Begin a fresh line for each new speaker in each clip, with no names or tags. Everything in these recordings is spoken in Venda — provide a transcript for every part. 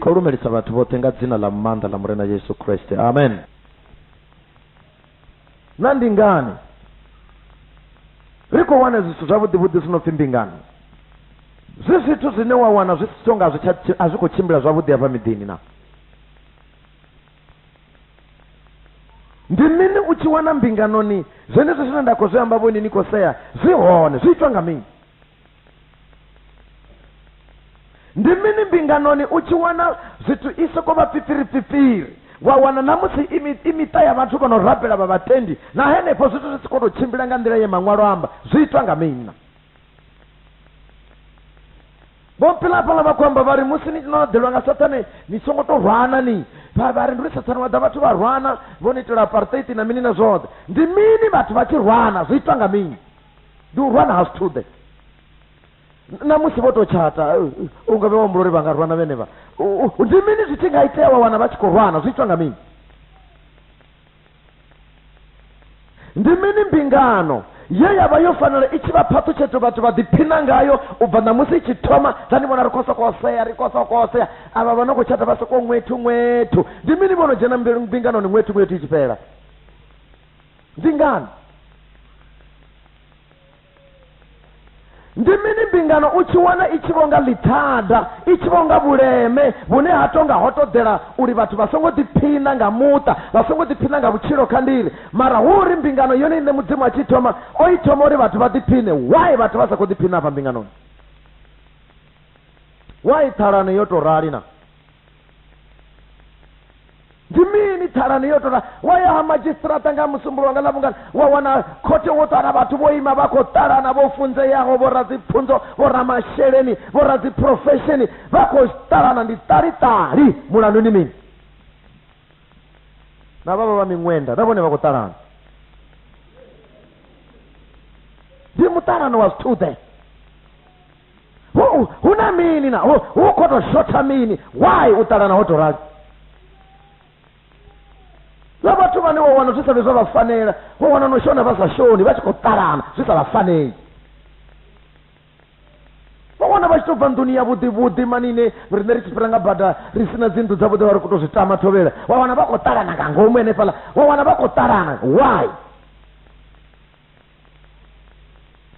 kho lumelisa vhathu vhoṱhe nga dzina ḽa maanḓa ḽa murena yesu kreste amen na ndi ngani ri khou wana zwithu zwavhuḓivhuḓi zwi no pfhi mbingano zwi zwithu zwine wa wana zwi songa a zwi khou tshimbila zwavhuḓi hafha miḓini na ndi mini u tshi wana mbinganoni zwenezwo zwine nda khou zwi amba vhoni ni khou sea zwi hone zwi itwa nga mini ndi mini mbinganoni u tshi wana zwithu i soko vha fifiri fifiri wa wana na musi i miṱa ya vhathu vha no rabela vha vhatendi na henefho zwithu zwi si khou tou tshimbila nga nḓila ye maṅwalo amba zwi itwa nga mina vho pilapala vha khou amba vha ri musi ni no ḓelwa nga sathane ni songo to rwana ni vha vha ri ndi uri sathane wa ḓa vhathu vha rwana vho ni itela apartheid na mini na zwoṱhe ndi mini vhathu vha tshi rwana zwi itwa nga mini ndi u rwana ha zwithuḓe na musi vho to tshata u nga vhe wa humbula uri vha nga rwana vhenevha ndi mini zwi tshi nga itea wa wana vha tshi khou rwana zwi itwa nga mini ndi mini mbingano ye ya vha yo fanela i tshi vha phaṱhutshedzo vhathu vha ḓiphina ngayo u bva ṋamusi i tshi thoma dza ni vhona ri khou sokou sea ri khou sokou sea avha vha no khou tshata vha sokou ṅwethu ṅwethu ndi mini vho no dzhena mbinganoni ṅwethu ṅwethu i tshi fhela ndi ngani Ndi mini mbingano u tshi wana i tshi vho nga ḽithada, i tshi vho nga vhuleme vhune ha tou nga ho ṱoḓela uri vhathu vha songo ḓiphina nga muṱa, vha songo ḓiphina nga vhutshilo kha ndiri? Mara hu uri mbingano yone iṋe Mudzimu a tshi i thoma, o i thoma uri vhathu vha ḓiphine. Why vhathu vha sa khou ḓiphina afha mbinganoni? Why ṱhalano yo tou rali na? ndi mini thalani yo tora wa ya ha madzhisitirata nga musumbulo wanga ḽavhungana wa wana khothe wo ṱala vhathu vho ima vha khou ṱalana vho funzeaho vho radzipfunzo vho ramasheleni vho radziphurofesheni vha khou ṱalana ndi ṱaliṱali mulandu ndi mini na vhavha vha miṅwenda na vhone vha khou ṱalana ndi muṱalano wa zwithu ḓe hu hu na mini na hu hu khou tou shotha mini why u ṱalana ho tou rali na vhathu vhane wa wana zwi sa vhe zwa vha fanela wa wana no shona vha sa shoni vha tshi khou ṱalana zwi sa vha faneli vha wana vha tshi tou bva nḓuni ya vhuḓi vhuḓi manine riṋe ri tshi fhira nga bada ri si na dzinnḓu dzavhuḓi vha ri khou tou zwi tama thovhela wa wana vha khou ṱalana nga ngomu henefhaḽa wa wana vha khou ṱalana why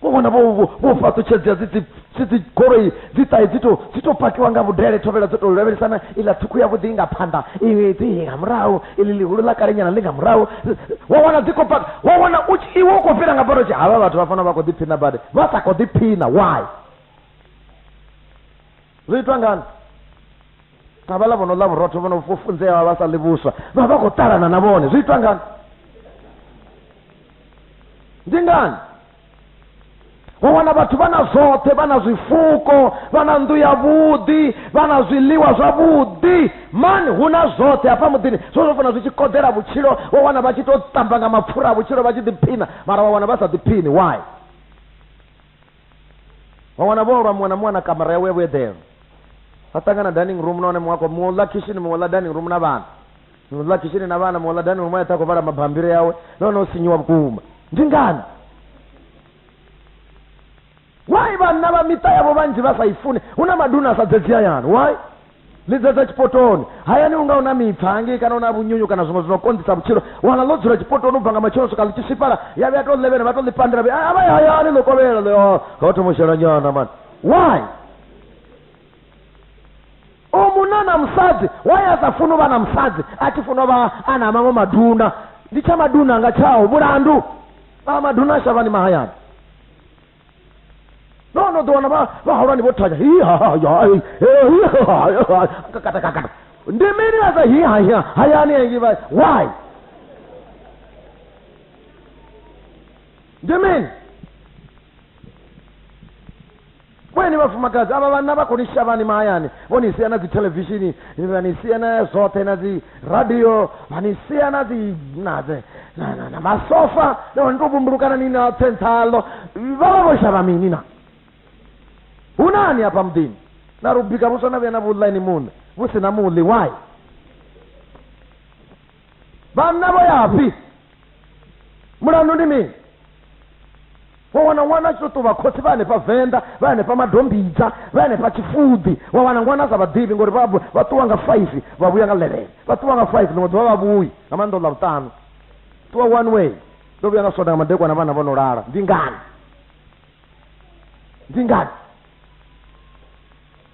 vho vhona vho vho- vho fhaṱutshedzea dzi dzi- dzi dzi goloi dzi ṱahe dzi to dzi to pakiwa nga vhudele thovhela dzo to lavhelesana iḽa ṱhukhu ya vhuḓi nga phanḓa iwe dzi nga murahu iḽi ḽihulu ḽa kalenyana ḽi nga murahu wa wana dzi khou paka wa wana u tshi- iwe u khou fhira nga bado tshi havha vhathu vha fana vha khou ḓiphina badi vha sa khou ḓiphina why zwi itwa ngani na vhala vho no ḽa vhurotho vho no funzea vha sa ḽi vhuswa vha vha khou ṱalana na vhone zwi itwa ngani ndi ngani wa wana vhathu vha na zwoṱhe vha na zwifuko vha na nnḓu yavhuḓi vha na zwiḽiwa zwavhuḓi mani hu na zwoṱhe hafha muḓini zwo zwo fana zwi tshi koḓela vhutshilo wa wana vha tshi tou tamba nga mapfura a vhutshilo vha tshi ḓiphina mara wa wana vha sa ḓiphini why vha wana vho lwa muṅwe na muṅwe na kamara yawe ya vhueḓelo vha ṱangana dining room nahone muṅwe a khou muṅwe u ḽa khishini muṅwe u ḽa dining room na vhana muṅwe u ḽa khishini na vhana muṅwe u ḽa dining room a eṱha a khou vhala mabambiri yawe nahone o sinyiwa vhukuma ndi ngani why vhanna vha miṱa yavho vhanzhi vha sa i funi hu na maduna a sa dzedzi hayani why Lidza dza tshipotoni. Hayani u nga u na mipfa hangei kana u na vhunyunyu kana zwiṅwe zwi no konḓisa vhutshilo, u wana ḽo dzula tshipotoni u bva nga matsheloni u swika ḽi tshi swifhala, ya vhuya ya tou ḽevhena vha tou ḽi pandela vhe a vha ye hayani ḽo kovhela ḽi oh ho thoma u shela nyana mani. Why? U munna na musadzi, why a sa funi u vha na musadzi a tshi funa u vha a na maṅwe maduna? Ndi tsha maduna nga tshaho, mulandu. A maduna shavhani mahayani. no no ḓo wana vhahulwane vho thanya katakakata ndi mini vha sa hi haya hayani engi vha why ndi mini kweni vhafumakadzi avha vhanna vha khou ni shavhani mahayani vho ni sia na dzi thelevishini vha ni sia na zwoṱhe na dzi radio manisiya na dzi na dze na na na masofa na ndo bumbulukana ni na tsentsalo vha vho shavha mini na hu nani hafha muḓini na ri bika vhuswa na vhuya na vhuḽa ini muṋe vhu si na muḽi why vhanna vho yafhi mulandu ndi mini Wa wana ṅwana a tshi tou vha khotsi vha hanefha Venḓa, vha hanefha Madombidza, vha hanefha Tshifuḓi. Wa wana ṅwana a sa vha ḓivhi ngori vha vha ṱuwa nga faifi vha vhuya nga ḽevene. Vha ṱuwa nga faifi ḽiṅwe ḓuvha vha vhuyi, nga maanḓa ḽa vhuṱanu. Ṱuwa one way. Ndo vhuya nga Sonda nga madekwana vhana vho no lala. Ndi ngani? Ndi ngani?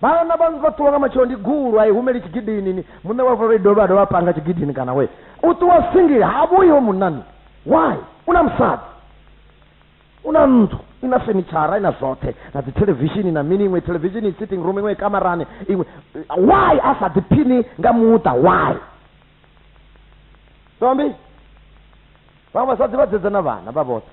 vhana vha vha ṱuwa nga matshelo ndi gulu a i humeli tshigidini ni muṋe wa vhuloi dovha a dovha panga tshigidini kana we u ṱuwa singili ha vhuyi ho munani why u na musadzi u na nnḓu i na fenitshara i na zwoṱhe na dzi thelevishini na mini iṅwe thelevishini sitting room iṅwe kamarani iṅwe why a sa ḓiphini nga muṱa why tombi vhaṅwe vhasadzi vha dzedza na vhana vha vhoṱhe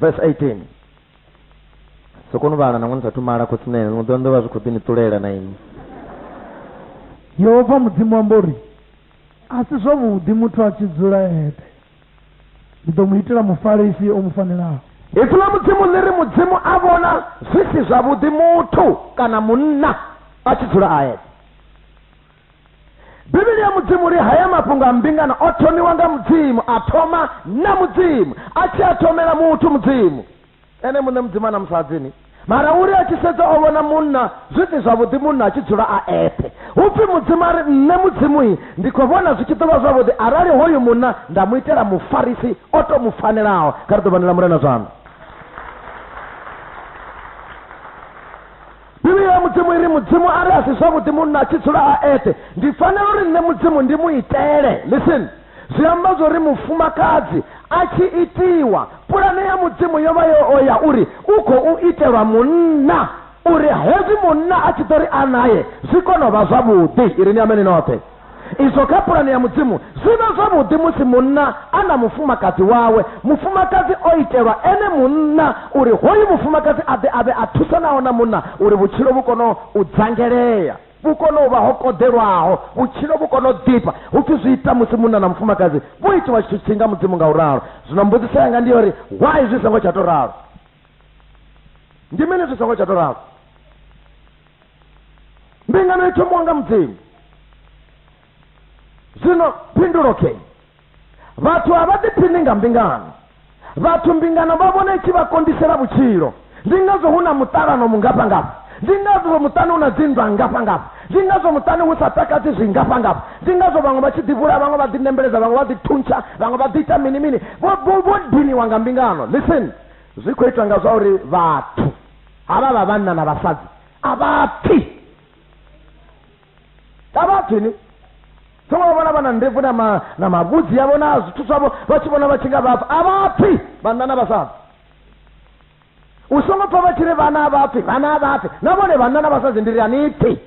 Verse 18 sokoni vhala nangwe ni sathu mala khosinene ḽiṅwe ḓuvha ni ḓo vha zwi khou ḓi ni ṱulela na inwi yehova mudzimu amba uri a si zwavhuḓi muthu a tshi dzula eṱhe ndi ḓo mu itela mufarisi o mu fanelaho ipfi ḽa mudzimu ḽi ri mudzimu a vhona zwi si zwavhuḓi muthu kana munna a tshi dzula a eṱhe bivhili ya mudzimu ri haya mafhungo a mbingano o thomiwa nga mudzimu a thoma na mudzimu a tshi a thomela muthu mudzimu ene muṋe mudzimu a na musadzini mara uri a tshi sedza o vhona munna zwi si zwavhuḓi munna a tshi dzula a eṱhe hu pfi mudzimu a ri nṋe mudzimuyi ndi khou vhona zwi tshi ḓo vha zwavhuḓi arali hoyu munna nda mu itela mufarisi o to mu fanelaho kha ri ḓo vhanela murena zwanḓa Bivhili ya Mudzimu i ri Mudzimu a ri a si zwavhuḓi munna a tshi dzula a eṱhe. Ndi fanela uri nṋe Mudzimu ndi mu itele. Listen. Zwi amba zwa uri mufumakadzi a tshi itiwa, pulane ya Mudzimu yo vha yo o ya uri u khou itelwa munna, uri hezwi munna a tshi ḓo ri a nae zwi kone u vha zwavhuḓi. I ri ni ameni noṱhe. izwo kha pulane ya mudzimu zwi vha zwavhuḓi musi munna a na mufumakadzi wawe mufumakadzi o itelwa ene munna uri hoyu mufumakadzi a ḓe a vhe a thusanaho na munna uri vhutshilo vhu kono u dzangelea vhu kono u vha ho koḓelwaho vhutshilo vhu kono u ḓifha hu pfi zwi ita musi munna na mufumakadzi vho itiwa tshithu tshi nga mudzimu nga u ralo zwino mbudziso yanga ndi yori why zwi songo tsha to ralo ndi mini zwi songo tsha to ralo mbingano i thomiwa nga mudzimu zwino phindulo ke vhathu a vha ḓiphini nga mbingano vhathu mbingano vha vhona i tshi vha kondisela vhutshilo ndi ngazwo hu na muṱalano mungafhangafha ndi ngazwo muṱani hu na dzinndwa ngafhangafha ndi ngazwo muṱani hu sa takadzi zwingafhangafha ndi ngazwo vhaṅwe vha tshi ḓivhula vhaṅwe vha ḓinembeledza vhaṅwe vha ḓithuntsha vhaṅwe vha ḓiita mini mini vho diniwa nga mbingano listen zwi khou itwa nga zwa uri vhathu havha vha vhanna na vhasadzi a vha pfi a vha pfi ni songo vha vhona vha na ndebvu na ma- na mavhudzi yavho na zwithu zwavho vha tshi vhona vha tshi nga vha pfi a vha pfi vhanna na vhasadzi u songo pfa vha tshi ri vhana a vha pfi vhana a vha pfi na vhone vhanna na vhasadzi ndi ri a ni pfi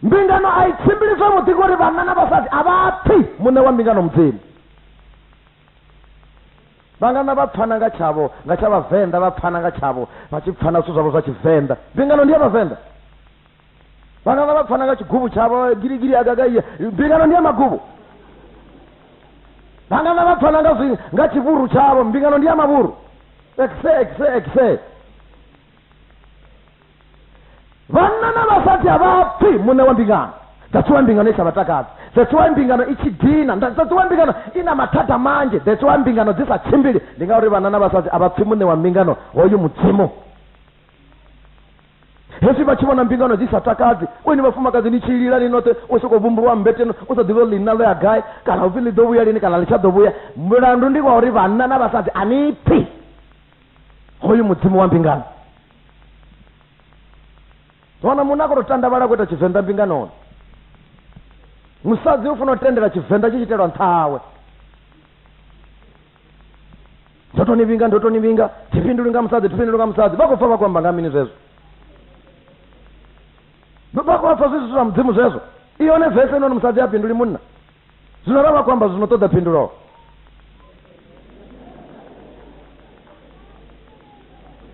mbingano a i tshimbili zwavhuḓi ngori vhanna na vhasadzi a vha pfi muṋe wa mbingano mudzimu Vhangana vha pfana nga tshavho nga tsha Vhavenḓa vha pfana nga tshavho vha tshi pfana zwithu zwavho zwa Tshivenḓa. Mbingano ndi ya Vhavenḓa. Vhangana vha pfana nga tshiguvhu tshavho giligili agagaiya. Mbingano ndi ya maguvhu. Vhangana vha pfana nga zwi nga tshivhuru tshavho mbingano ndi ya mavhuru. Exe exe exe. vhanna na vhasadzi a vha pfi muṋe wa mbingano that's why mbingano i sa vhatakadzi that's why mbingano i tshi dina that's why mbingano i na mathada manzhi that's why mbingano dzi sa tshimbili ndi ngauri vhanna na vhasadzi a vha pfi muṋe wa mbingano hoyu mudzimu hezwi vha tshi vhona mbingano dzi sa takadzi weni vhafumakadzi ni tshilila ni noṱhe u sokou vhumbulwa mmbeteno u sa ḓivhi ḽina ḽo ya gai kana upfi ḽi ḓo vhuya lini kana ḽi tsha ḓo vhuya mulandu ndi wa uri vhanna na vhasadzi a ni pfi hoyu mudzimu wa mbingano wana munna a khou tou tandavhala a khou ita tshivenḓa mbinganoni musadzi u funa u tendela tshivenḓa tshi tshi itelwa nṱha hawe ndo to ni vhinga ndo to ni vhinga thifhinduli nga musadzi thifhinduli nga musadzi vha khou pfa vha khou amba nga mini zwezwo vha khou pfa zwi zwithu zwa mudzimu zwezwo i hone vese noni musadzi a fhinduli munna zwino ra vha khou amba zwino ṱoḓa phindulo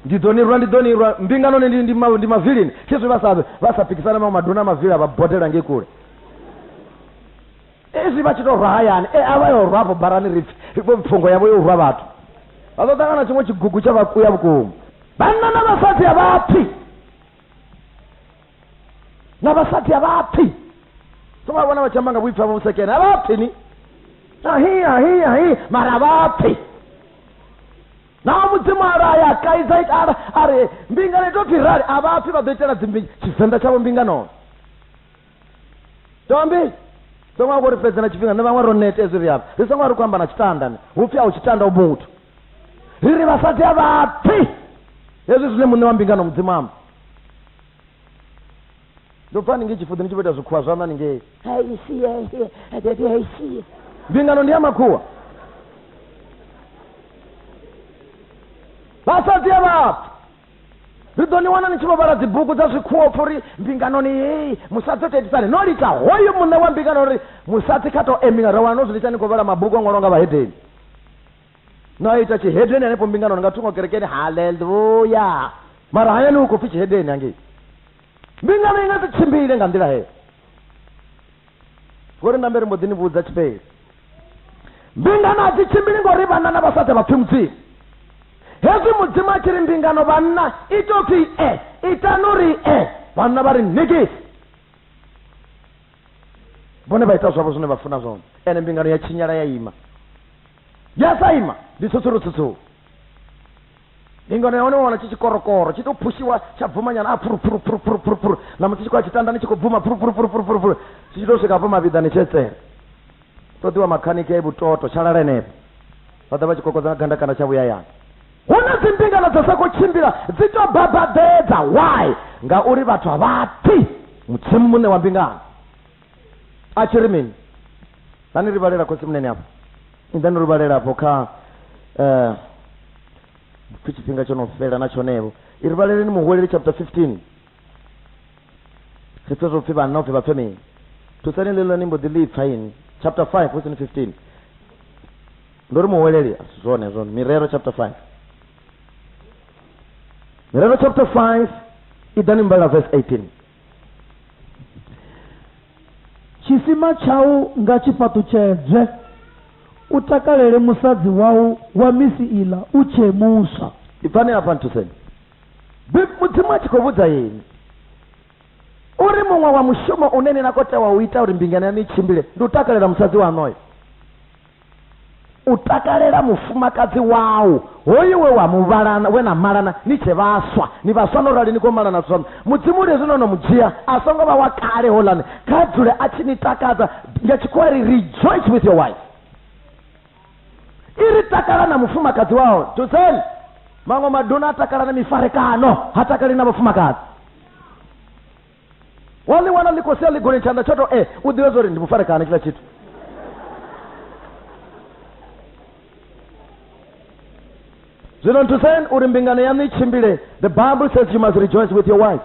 ndi ḓo ni rwa ndi ḓo ni rwa mbingano ni ndi- ndi ma- ndi mavilini khezwi vha sa vha sa pikisana maṅwe maduna a mavili a vha bodela ngei kule ezwi vha tshi tou rwa hayani e a vha yo rwa afho barani ri pfi vho pfungo yavho yo rwa vhathu vha ḓo ṱangana tshiṅwe tshigugu tsha vhakuya vhukuma vhanna na vhasadzi a vha pfi na vhasadzi a vha pfi so vha vhona vha tshi amba nga vhuipfi havho vhusekene a vha pfi ni ahi ahi ahi mara vha pfi na mudzimu a raya a kaidza ita ara a ri mbingano ito pfi rali a vha pfi vha ḓo itela dzimbi tshivenḓa tshavho mbinganono tombi songo vha ri fhedza na tshifhinga ni vhaṅwe ro nete ezwi ri avha ri songo vha ri khou amba na tshitanda ni hu pfi a u tshitanda u muthu ri ri vhasadzi a vhapfi hezwi zwine muṋe wa mbingano mudzimu amba ndo pfa ni nge tshifuḓi ni tshi vho ita zwikhuwa zwaṋa ni ngei mbingano ndi ya makhuwa vhasadzi a vhapfi ri ḓo ni wana ni tshi vho vhala dzibugu dza zwikhuwa pfha uri mbinganoni hei musadzi o teitisani no litsha hoyu muṋe wa mbingano uri musadzi kha to emiwa ra wana no zwi litsha ni khou vhala mabugu a ṅwalwa nga vhahedeni no a ita tshihedeni hanefho mbinganoni nga thungo kerekeni haleluya mara hayani hu khou pfhi tshihedeni hangei Mbingano i nga si tshimbile nga nḓila heyo. Vho ri nambe ri mbo ḓi ni vhudza tshifheli. Mbingano a dzi tshimbili ngori vhanna na vhasadzi vha pfi Mudzimu. Hezwi Mudzimu a tshi ri mbingano vhanna i tou pfi e, itani uri e, vhanna vha ri ṋekisi. Vhone vha ita zwavho zwine vha funa zwone, ene mbingano ya tshinyala ya ima. ya sa ima ndi tsutsurutsutsuru ndi ngano ya hone wana tshi tshikorokoro tshi to phushiwa tsha bvumanyana a phuruphuruphuruphuruphuruphuru na musi tshi khou ya tshitandani tshi khou bvuma phuruphuruphuruphuruphuruphuru tshi tshi to swika hafho mavhiḓani tshetsela ṱoḓiwa makhaniki a ibutoto tsha lala henefho vha ḓa vha tshi kokodza nga gandakanda tsha vhuyayana hu na dzimbingano dza sa khou tshimbila dzi to babadedza why ngauri vhathu a vha pfi mudzimu muṋe wa mbingano a tshi ri mini hani ri vhalela khosi munene afho ni ḓani ri vhalela afho kha um pfi tshifhinga tsho no fhela na tshonevo i ri vhaleleni muhweleli chapter 15 ri pfe zwo pfi vhanna upfi vha pfe mini thusani ḽeḽo ni mbo ḓi ḽi pfa ini chapter 5 hu sini 15 ndo ri muhweleli asi zwone zwone mirero chapter 5 mirero chapter 5 i ḓani mbala verse 18 Tshisima tshau nga tshi fhaṱutshedzwe, u takalele musadzi wau wa misi iḽa u tshee muswa. Ibvani hafha nthuseni. Bib. Mudzimu a tshi khou vhudza inwi uri muṅwe wa mushumo une ni na khou tea wa u ita uri mbingano yaṋu i tshimbile ndi u takalela musadzi waṋu oyo. U takalela mufumakadzi wau, hoyu we wa mu vhalana, we na malana ni tshe vhaswa. Ni vhaswa no rali ni khou malana zwino. Mudzimu ri hezwi no no mu dzhia, a songo vha wa kale houḽani, kha dzule a tshi ni takadza. Nga Tshikhuwa ri ri, Rejoice with your wife. I ri, Takala na mufumakadzi wau. Dzudzeni! Maṅwe maduna a takala na mifarekano, ha takali na vhafumakadzi. wa ḽi wana ḽi khou sia ḽigolini tshanḓa tsho to e u ḓivha zwa uri ndi mufarekana tshiḽa tshithu zwino nthuseni uri mbingano yaṋu i tshimbile the bible says you must rejoice with your wife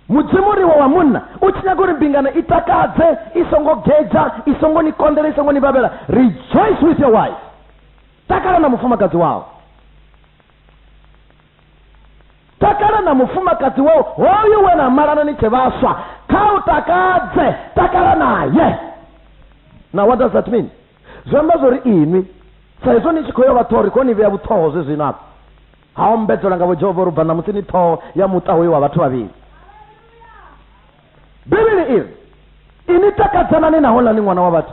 mudzimu riwe wa munna u tshi nyaga uri mbingano i takadze i songo gedza i songo ni konḓela i songo ni vhavhela rejoice with your wife takala na mufumakadzi wawo takala na mufumakadzi wau hoyu we na malana ni tshe vhaswa kha u takadze takala naye now what does that mean zwi amba zwori inwi sa izwo ni tshi khou yo vha ṱhori kho ni vhea vhuṱhoho zwe zwino afho ha ombedzelwa nga vhojehova uri bva ṋamusi ni ṱhoho ya muṱa hoyo wa vhathu vhavhili bivhili iri ini takadzanani nahonani ṅwana wa vhathu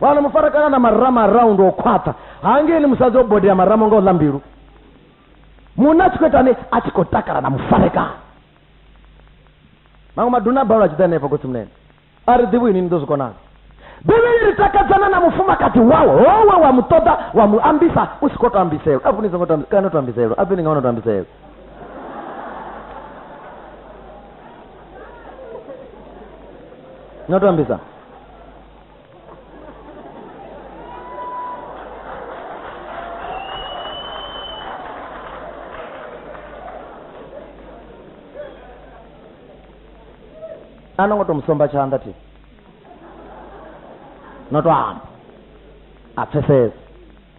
vana mufarakana na marama around o khwaṱha hangeli musadzi o bodea marama nga u ḽa mbilu munna a tshi khou itani a tshi khou takala na mufarekana maṅwe maduna a balelwa a tshi ḓa henefho khotsi munene a ri ḓivhi ini ni ḓo zwi konana bivhili ri takadzana na mufumakadzi wawe howe wa mu ṱoḓa wa mu ambisa u si khou to ambiselwa a vhuni songo kana to ambiselwa a bini nga wana to ambiselwa nga to ambisa ano ngo to musomba tshanḓa thi no to amba a pfesesa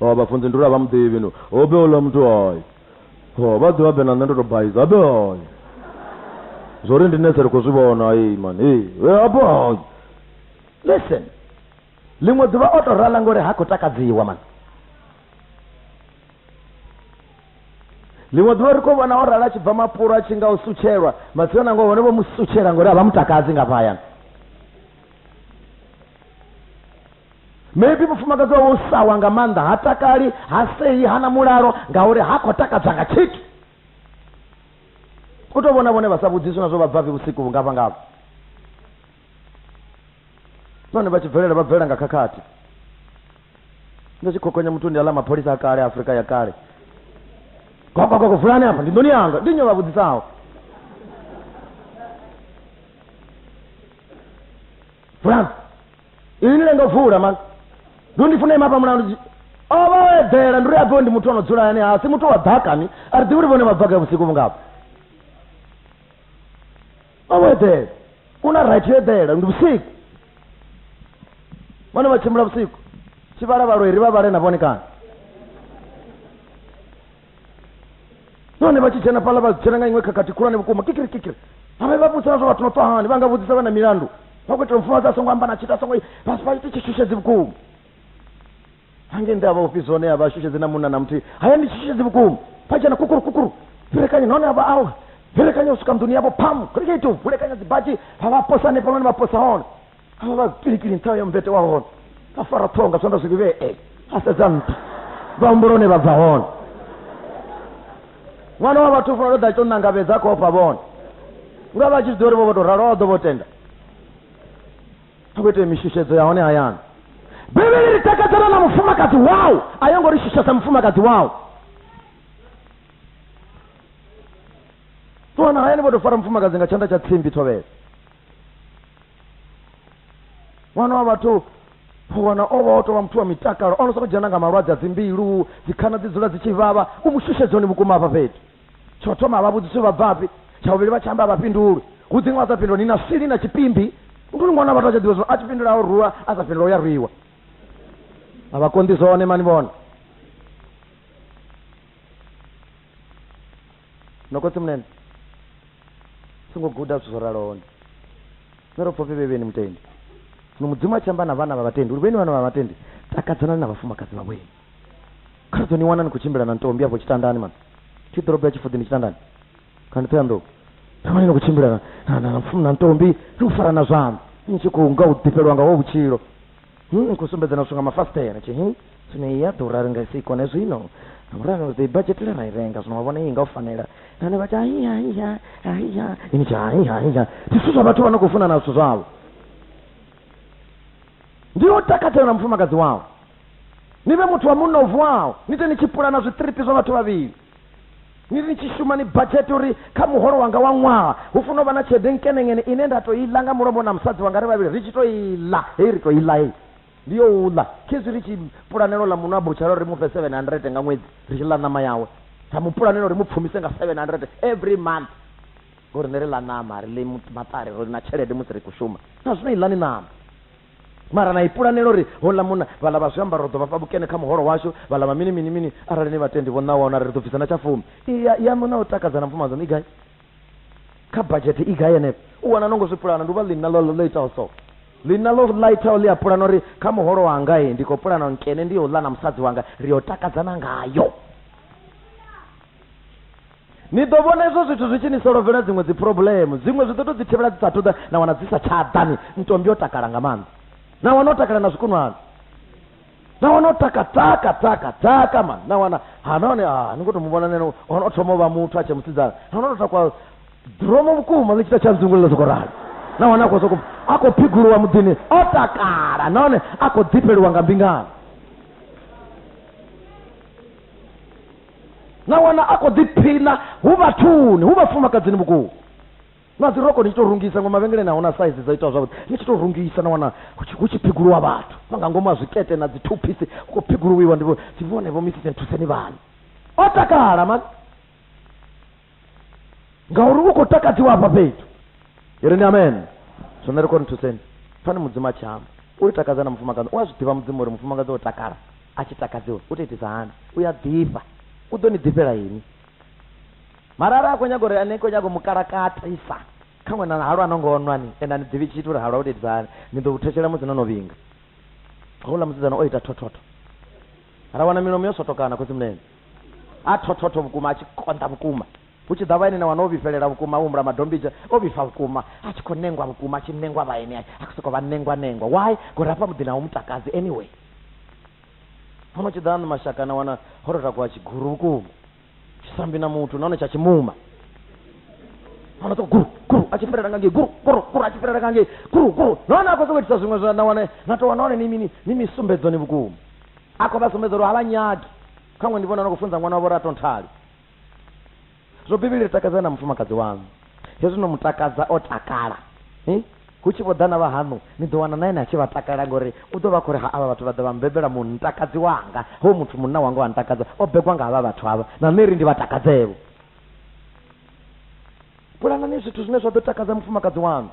Oh, vhafunzi ndi uri a vha muḓivhi no hobe ola muthu hoy ho vha ḓivha be na nṋe ndo to baiza hobe hoy zwori ndi nese ri khou zwi vhona ei man ei hobe hoy listen ḽiṅwe ḓuvha o to rala ngori ha khou takadziwa man ḽiṅwe ḓuvha ri khou vhona o rala a tshi bva mapulo a tshi nga u sutshelwa matsina nango hone vho mu sutshela ngori a vha mutakadzi nga vhayana maybe mufumakadzi wawe u sawa nga maanḓa ha takali ha sei ha na mulalo ngauri ha khou takadzwa nga tshithu u tou vhona vhone vha sa vhudziswi na zwo vha bvafhi vhusiku vhungafha ngavho nahone vha tshi bvelela vha bvelela nga khakhathi ndo tshi khokonya muthu ndi aḽa mapholisa a kale afurika ya kale gogogogo vulani afha ndi ndoni yanga ndi nyo vha vhudzisaho vulani ine ndo pfuula mani ndo ndifuna ima pamulandu ova oedzera ndiri apiwe ndi muthu anodzula ane asi muthu wa dhakani ari ḓivhi uri vhone mabvaka vhusiku vhungafha ova oedzera una right yo eḓela ndi vhusiku vhone vha tshimbula vhusiku tshivhalavhalo iri vha vhale na vhone kana nahone vha tshi dzhena fhaḽa vha dzhena nga iṅwe khakhathi khulwane vhukuma kikiri kikiri avhe vha vhudzisa na zwa vhathu no tswa hani vha nga vhudzisa vha na milandu vha khou itela mufumakadzi a songo amba na tshithu a songo vha vha ite tshishushetsi vhukuma hange nda vha ofisi hone a vha shushedzi na munna na muthihi haya ndi tshishushetsi vhukuma vha dzhena kukuru kukuru vhilekanya nahone a vha awe vhilekanya u swika nḓuni yavho phamu khulikeitu vhulekanya dzibadzhi vha vha posa hanefhaḽani vha posa hone a vha vhazipiki ni nṱha ya mmbete wa hone a fara ṱhonga zwanḓa zwi vhivhee eh, a sedza nṱha vha humbula hone vha bva hone ṅwana wa vhathu funa ṱoḓa tshi to nangavhedza kho ofha vhone nga vha tshi zwi ḓi uri vho vho to ralo vha ḓo vho tenda a khou ita mishushedzo ya hone hayani bivhili ri takadzana na mufumakadzi wau a yo ngo ri shushesa mufumakadzi wau ṱuwana hayani vho to fara mufumakadzi nga tshanḓa tsha tsimbi thovhela ṅwana wa vhathu wana o vha o tovha muthu wa mitakalo ono soko dzhena nga malwadze a dzimbilu dzikhana dzi dzula dzi tshi vhavha u mu shushedza hone vhukuma hafha fhethu tsho thoma vha vhudzisi vha bvafhi tsha vhuvhili vha tshi amba vha fhinduli hu dziṅwe a sa fhindula ni na swili na tshipimbi uri ṅwana vhathu a tsha ḓivha zwino a tshi fhindula o rwiwa a sa fhindula u ya rwiwa a vha konḓi zwone mani vhona nokotsi munene Songo guda zwithu zwo raloho ndi Zwine ro pfa upfi vhevheni mutendi. Zwino Mudzimu a tshi amba na vhana vha vhatendi uri vheni vhana vha vhatendi, takadzanani na vhafumakadzi vha vhwenu. Kha ri ḓo ni wana ni khou tshimbila na ntombi afho tshitandani man. Thi ḓorobo ya Tshifuḓi ndi tshitandani. Kha ndi Ṱhoyandou. Ni wane ni khou tshimbila na, na, na, na, na ntombi, ni khou farana zwanḓa, ni tshi khou nga u ḓifhelwa nga wa vhutshilo. Hii ni khou sumbedza na zwithu nga mafasiṱere. Tshi, Tsini i a ḓura, ri nga i si i kone zwino. Ngauralo ri ḓo i badzhetela ra i renga. Zwino wa vhona iyi nga u fanela. Nahone vha tshi, Hai, hai, ha, hai, ha. Ini tshi, Hai, hai, ha. Ndi zwithu zwa vhathu vha no khou funana zwithu zwavho. Ndi yo takadzela na mufumakadzi wawe. Ni vhe muthu wa munna o vuwaho, ni te ni tshi pulana zwiṱiripi zwa vhathu vhavhili. ni tshi shuma ni badzhete uri kha muholo wanga wa ṅwaha hu funa u vha na tshelede nkeneŋene ine nda to i ḽa nga mulombo na musadzi wanga ri vhavhili ri tshi to i ḽa hei ri to i ḽa hei ndi yo u ḽa khezwi ri tshi pulanela u ḽa muṅwe a butshara uri ri mu fhe seven hundred nga ṅwedzi ri tshi ḽa ṋama yawe ra mu pulanela uri mu pfumise nga seven hundred every month ngori ne ri ḽa ṋama ri ḽi maṱari ro na tshelede musi ri khou shuma na zwino i ḽani ṋama Mara na i pulanela uri houḽa munna, vhaḽa vha zwiambaro ri ḓo vha fha vhukene kha muholo washu, vhaḽa vha mini mini mini, arali ni vhatendi vho ṋawaho na ri ri ḓo bvisa na tsha fumi. I ya, yaṋu na u takadza na mfumakadzi waṋu i gai? Kha badzhethe i gai henefho? U wana no ngo zwi pulana, ndi u vha ḽinna ḽo, ḽo itaho so. Ḽinna ḽo, ḽa itaho ḽi a pulana uri, Kha muholo wanga, ndi khou pulana uri nkene ndi yo u ḽa na musadzi wanga, ri yo takadzana ngayo. Ni ḓo vhona izwo zwithu zwi tshi ni solovhela dziṅwe dziphurobulemu. Dziṅwe zwi ḓo tou dzi thivhela dzi sa athu ḓa, na wana dzi sa tsha ḓa. Ni ntombi yo takala nga maanḓa. Na wana o takala na zwikunwana. Na wana o taka taka taka taka man. Na wana ha nahone ha ni ngo to mu vhona nene ono o thoma u vha muthu a tshe musidzana. Ha no to takwa dromo vhukuma ḽi tshi ta tsha nzungulula soko rali. Na wana a khou soko a khou phiguluwa muḓini o takala nahone a khou ḓifheliwa nga mbingano. na wana a khou ḓiphina hu vhathuni hu vhafumakadzini vhukuma na dzi roko ni tshi tou rungisa ngo mavhengeleni a huna saizi dza itiwa zwavhuḓi ni tshi tou rungisa na wana hu tshi phiguluwa vhathu na nga ngomu a zwikete na dzi two piece hu khou phiguluwiwa ndi vhone vho misisi nthuseni vhani o takala mani ngauri u khou takadziwa afha fhethu iri ni amen zwone ri koni thuseni fani mudzimu a tshi amba u ri takadza na mufumakadzi u a zwi ḓivha mudzimu uri mufumakadzi o takala a tshi takadziwa u to itisa hani u ya ḓifha u ḓo ni ḓifhela ini mara ara a khou nyaga uri ane khou nyaga mukalakatisa kha ṅwana na halwa no ngo nwani ende ani ḓivhi tshithu uri halwa u to itisa hani ni ḓo u thetshelea musi no no vhinga houḽa musidzana o ita thothotho ra wana milomo yo sotokana khosi mulenzhe A thothoto vhukuma, a tshi konḓa vhukuma. Hu tshi ḓa vhaeni na wana o vhifhelela vhukuma, o humbula madombidzha, o vhifha vhukuma, a tshi khou nengwa vhukuma, a tshi nengwa vhaeni, a khou sokou vha nengwa-nengwa. Why? Ngori hafha muḓini a hu mu takadzi anyway. Huno tshi ḓa mashaka na wana ho tou takuwa tshiguru vhukuma, tshi sa mbi na muthu nahone tsha tshimuma. Hano sokou guru, guru, a tshi fhelela nga ngei, guru, guru, guru, a tshi fhelela nga ngei, guru, guru, nahone a khou sokou itisa zwiṅwe zwa na wane, na tou wana hone ni mini, ni misumbedzoni vhukuma. a khou vha sumbedza uri a vha nyagi kha ṅwe ndi vhona no khou funza ṅwana wavho uri a tonthali zwo bivhili ri takadza na mufumakadzi waṋu hezwi no mu takadza o takala eh? hu tshi vho ḓa na vha haṋu ni ḓo wana na ene a tshi vha takala ngori u ḓo vha khou ri ha avha vhathu vha ḓa vha mbebela mu ntakadzi wanga ho muthu munna wanga wa ntakadza o begwa nga havha vhathu havha na nṋe ri ndi vha takadzevho pulanani zwithu zwine zwa ḓo takadza mufumakadzi waṋu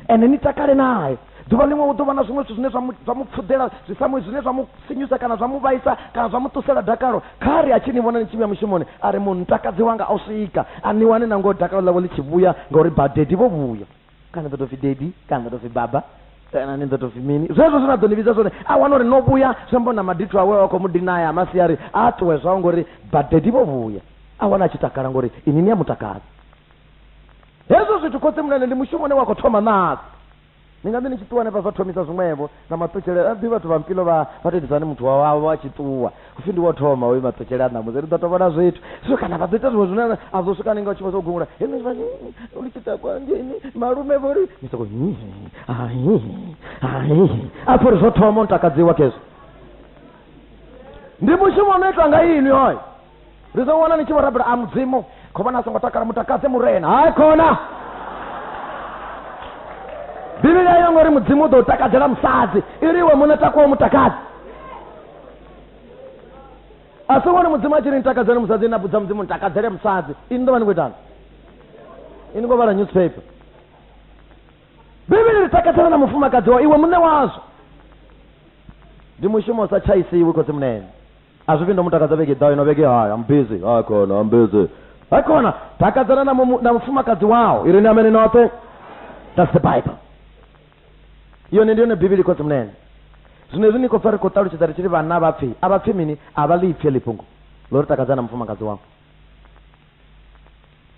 ene ni takale naye ḓuvha ḽiṅwe hu ḓo vha na zwiṅwe zwithu zwine zwa mu pfuḓela zwi samuwe zwine zwa mu sinyusa kana zwa mu vhaisa kana zwa mu ṱusela dakalo kha ri a tshi ni vhona ni tshi vhuya mushumoni a ri mutakadzi wanga o swika a ni wane na ngoho dakalo ḽawe ḽi tshi vhuya ngauri vhadedi vho vhuya kana nda tou pfi dedi kana nda tou pfi baba kana ni nda tou pfi mini zwezwo zwi na ḓo ni vhidza zwone a wana uri no vhuya zwi amba na madithu awe wa khou mu dinaya a masiari a a ṱuwe zwao ngori badedi vho vhuya a wana a tshi takala ngori ini ni a mutakala hezwo zwithu khotsi mulele ndi mushumo une wa khou thoma nasi ni nga ḓi ni tshi ṱuwa hanefha zwa thomisa zwiṅwevho na maṱutshele a ḓi vhathu vha mpilo vha vha tou ni muthu wavho a tshi ṱuwa upfhi ndi wo thoma hoyu maṱutshele a ṋamusi ri ḓo to vhona zwithu so kana vha ḓo ita zwiṅwe zwine a ḓo swika ninga u tshi vha zwo gungula henezwi vha uli tshi takwa ngeni malume vho ri ni soko a pfha uri zwo thoma u takadziwa khezwo ndi mushumo no itwa nga inwi hoyo ri ḓo wana ni tshi vho rabela a mudzimu kho vhona a songo takala mutakadze murena hai khona bivhili ayo ngori mudzimu u ḓo u takadzela musadzi ili iwe muṋe takuwa mutakadzi a si vhone mudzimu a tshi ri nitakadzele musadzi na vhudza mudzimu nitakadzele musadzi ini ḓo vha ni khou itani ini khou vhala newspaper bivhili ri takadzela na mufumakadzi wa iwe muṋe wazwo ndi mushumo sa tshaisiwi khotsi munene A zwi vhuyi nda mu takadza vhege i ḓaho, ino vhege hai, I'm busy. Hai khona, I'm busy. Hai khona, takadzana na, mu, na mufumakadzi wau. I ri ni amene noṱhe. That's the Bible. Yone ndi yone Bivhili khotsi munene. Zwino hezwi ni khou pfa ri khou ṱalutshedza ri tshi ri vhanna vha pfi, a vha pfi mini? A vha ḽi pfi heḽi fhungo ḽo ri takadzana na mufumakadzi wau.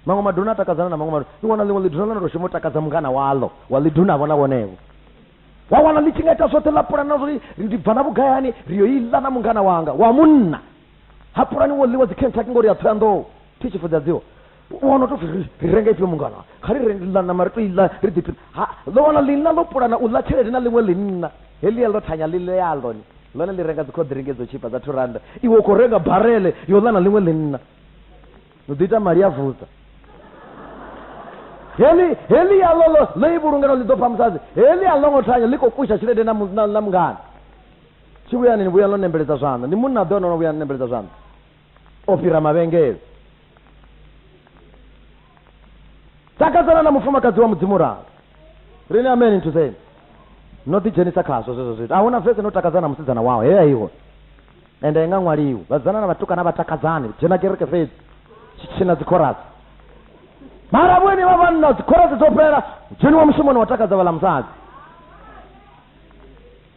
maṅwe maduna a takadzana na maṅwe maduna i wana ḽiṅwe ḽiduna ḽa to shuma u takadza mungana waḽo wa ḽiduna vhona vhonevho wa wana ḽi tshi nga ita zwoṱhe ḽa pulana na zwori ndi bva na vhugayani ri yo iḽa na mungana wanga wa munna ha pulani wo ḽiwa dzikhentaki ngori ya thoyanḓou thi tshi fudzadziwa wana to ri renga ifhio mungana kha ri renla nama ri to iḽa ri ḓiphi ha ḽo wana ḽinna ḽo pulana u ḽa tshelede na ḽiṅwe ḽinna heḽi ya ḽo thanya ḽi ḽealoni Ḽone ḽi renga dzikhoḓiringi dzo tshipa dza two randa, iwe u khou renga barele yo ḽa na ḽiṅwe ḽinna. Ni ḓo ita mali ya vudza. Heḽi heḽi ya ḽo ḽo ḽo i vhulunga no ḽi ḓo pha musadzi. Heḽi a ḽo ngo thanya ḽi khou fusha tshelede na na mungana. Tshi vhuyani ni vhuya no nembeledza zwanḓa. Ndi munna a ḓo no vhuya nembeledza zwanḓa. o fhira mavhengele takadzana na mufumakadzi wa mudzimu ralo rini ameni nthuseni no ḓidzhenisa khazwo zwezwo zwithu a huna vese no takadzana na musidzana wawo heya iwe ende i nga ṅwaliwi vhadzana na vhatukana vha takadzani dzhena kereke fhedzi tshitshina dzikhorasi mara vhone vha vhanna dzikhorasi dzo fhela dzheniwa mushumoni wa takadza vhala musadzi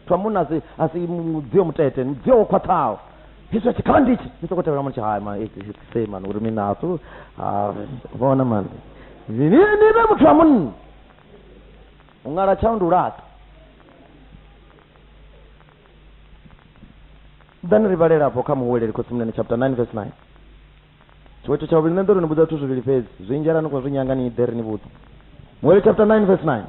muthu wa munna asi asi mu- mudzio mutete ndi mudzio wo khwaṱhaho hezwi a tshi khala ndichi ni soko tevhela mutshi hai man it's it's same man uri mina asu ah, vhona man ni ni ni vhe muthu wa munna u ngala tshau ndi u laṱa then ri vhalela afho kha muhuweleli khotsimunene chapter 9 verse 9 Tshiṅwe tshithu tsha vhuvhili, nṋe ndo ri ni vhudza zwithu zwivhili fhedzi, zwinzhi arali ni khou zwi nyanga ni ḓe ri ni vhudze. Muhali chapter 9 verse 9.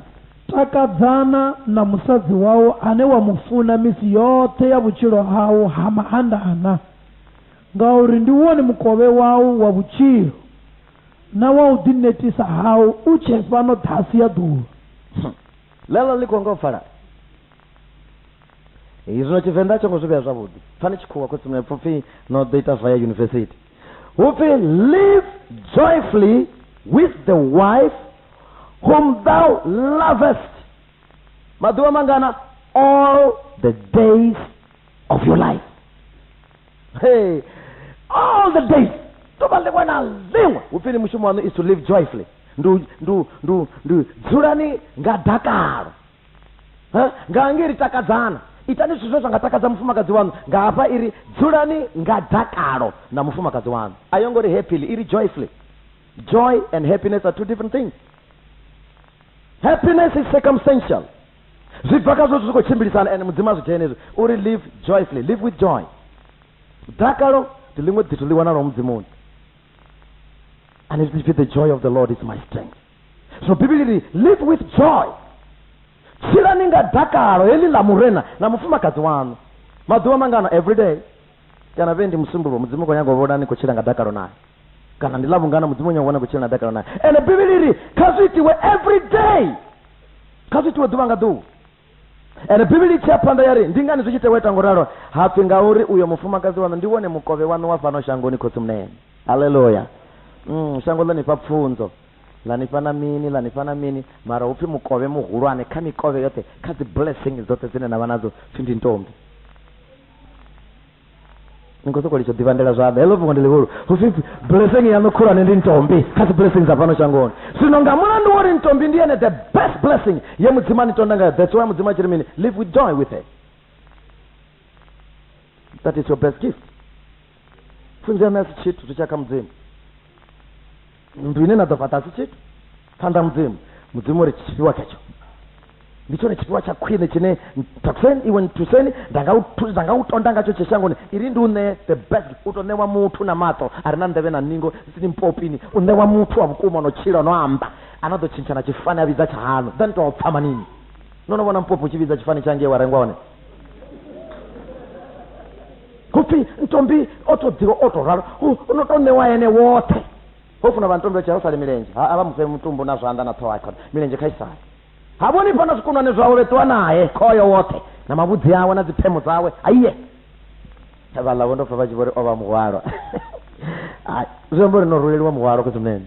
Takadzana na musadzi wau ane wa mu funa misi yoṱhe ya vhutshilo hau ha maanḓana, ngauri ndi wone mukovhe wau wa vhutshilo na wa u ḓinetisa hau u tshee fhano ṱhasi ya ḓuvha. Ḽeneḽo ḽi khou nga u pfala. Hei zwino Tshivenḓa a tsho ngo zwi vhea zwavhuḓi. Pfani tshikhuwa khotsi mwepfo pfi no ḓo ita via yunivesithi. Hu pfi live joyfully with the wife whom thou lovest. Maḓuvha mangana all the days of your life. Hey, all the days. Ḓuvha ḽiṅwe na ḽiṅwe hu pfi ni mushumo waṋu is to live joyfully. Ndu ndu ndu ndu dzulani nga dakalo. ngaange ri takadzana itani zwithu zwe zwa nga takadza mufumakadzi waṋu nga hafha iri dzulani nga dakalo na mufumakadzi waṋu a yo ngo ri happily iri joyfully joy and happiness are two different things happiness is circumstantial zwi bva kha zwo zwi khou tshimbilisana and mudzimu a zwi dzhene hezwi uri live joyfully live with joy dakalo ndi ḽiṅwe ḓithu ḽi wanalaho mudzimuni and if the joy of the lord is my strength zwino bivhili ri live with joy tshilani nga dakalo heḽi ḽa murena na mufumakadzi waṋu maḓuvha mangana everyday kana vhe ndi musumbuluwo mudzimu u khou nyanga u vhona ni khou tshila nga dakalo naye kana ndi ḽavhungana mudzimu u nyanga u vhona khou tshila na dakalo naye ende bivhili ri kha zwi itiwe everyday kha zwi itiwe ḓuvha nga ḓuvha ende bivhili tshi ya phanḓa ya ri ndi ngani zwi tshi tewa ita ngo ralo ha pfi ngauri uyo mufumakadzi waṋu ndi wone mukovhe waṋu wa fhano shangoni khotsi munene aleluya mm, shango ḽa nifha pfunzo ḽa nifha na mini ḽa nifha na mini mara hu pfi mukovhe muhulwane kha mikovhe yoṱhe kha dzi blessing dzoṱhe dzine na vha nadzo pfi ndi ntombi ni khou sokou litsho ḓivhandela zwanḓa heḽo fhungo ndi ḽihulu husipfi blessing yaṋu khulwane ndi ntombi kha dzi blessing dza fhano shangoni zwino nga mulandu wo ri ntombi ndi yene the best blessing ye mudzimu ani tonda ngayo that's why mudzimu a tshi ri mini live with joy with her that is your best gift pfunzo yaṋu a si tshithu zwi tsha kha mudzimu nnḓu ine na ḓo fhaṱa si tshithu phanḓa mudzimu mudzimu uri tshifhiwa khetsho ndi tshone tshifhiwa tsha khwine tshine takuseni iwe nthuseni nda nga u tonda ngatsho tshe shangoni iri ndi u ṋee the best u to ṋewa muthu na maṱo a re na nḓevhe na ningo sini mpopini u ṋewa muthu wa vhukuma no tshila no amba a no ḓo tshintsha na tshifani a vhidza tsha hanu then to pfa manini no no vhona mpopi u tshi vhidza tshifani tsha ngei wa rengwa hone hupfi ntombi o to ḓiwa o to ralo u no to ṋewa ene woṱhe ho funa vha ntombi vha tshia u sale milenzhe ha a vha mufhe mutumbu na zwanḓa na ṱhoho khona milenzhe kha i sale ha vhoni fhana zwikunwane zwawe vhe ṱuwa nae khoyo woṱhe na mavhudzi awe na dziphemo dzawe aiye vhaḽa vho ndo pfa vha tshi vho ri o vha muhwalwa ai zwi amba uri no ruleliwa muhwalwa khosi munene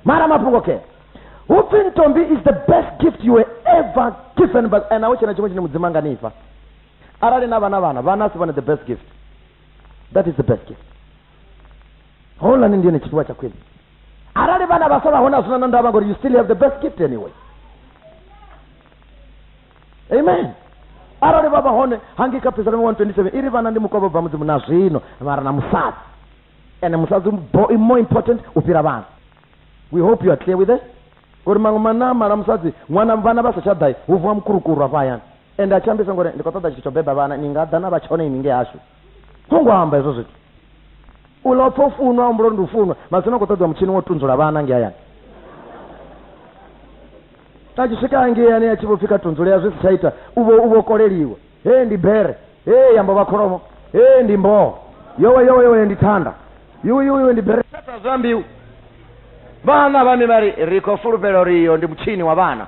mara mafhungo ke hupfi ntombi is the best gift you were ever given but and awo tshena tshiṅwe tshine mudzimu a nga nifha arali na vha na vhana vhana a si vhone the best gift that is the best gift holani ndi yone tshifhiwa tsha khwine arali vhana vha sa vha hone a zwina na ndavha ngori you still have the best gift anyway amen arali vha vha hone hangi kha psalm 127 iri vhana ndi mukovho bva mudzimu na zwino mara na musadzi ene musadzi bo- more important u fhira vhana we hope you are clear with this ngori maṅwe manamala musadzi ṅwana vhana vha sa tsha ḓai hu vuwa mukurukuru afha hayani Ende a tshi ambisa ngori ndi khou ṱoḓa tshithu tsho beba vhana, ni nga ḓa na vha tshone ini ngei hashu. Ho ngo amba hezwo zwithu. U ḽa u pfa u funwa, a humbula uri ndi u funwa. Matsina hu khou ṱoḓiwa mutshini wa u tunzula vhana ngei hayani. A tshi swika hangei ane a tshi vho pfi kha tunzulea zwi si tsha ita, u vho u vho koleliwa. Hee ndi bere, hee ya mbo vha kholomo, hee ndi mboho, yowe yowe yowe ndi thanda, yuwi yuwi yuwi ndi bere. Fhedza zwa mbiu. Vhana vha mi vha ri, Ri khou fulufhela uri iyo ndi mutshini wa vhana.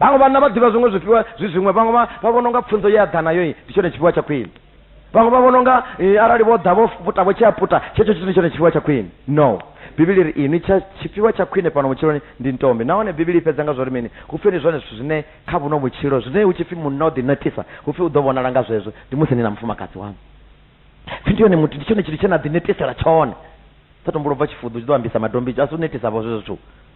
Vhaṅwe vhanna vha ḓivha zwiṅwe zwifhiwa zwi zwiṅwe vhaṅwe vha vha vhona unga pfunzo ye a ḓa nayo ndi tshone tshifhiwa tsha khwine vhaṅwe vha vhona unga eh, arali vho ḓa vho puta vho tshea puta tshetsho tshithu ndi tshone tshifhiwa tsha khwine no bivhili ri inwi tsha tshifhiwa tsha khwine fhano vhutshiloni ndi ntombi nahone bivhili i fhedza nga zwori mini hu pfi ndi zwone zwithu zwine kha vhuno vhutshilo zwine hu tshi pfi munna o ḓinakisa hu pfi u ḓo vhonala nga zwezwo ndi musi ni na mufumakadzi waṋu pfi ndi yone muthu ndi tshone tshithu tshe na ḓinetisela tshone sa tumbula u bva tshifuḓu tshi ḓo ambisa madombi a si u netisa vho zwezwo zwithu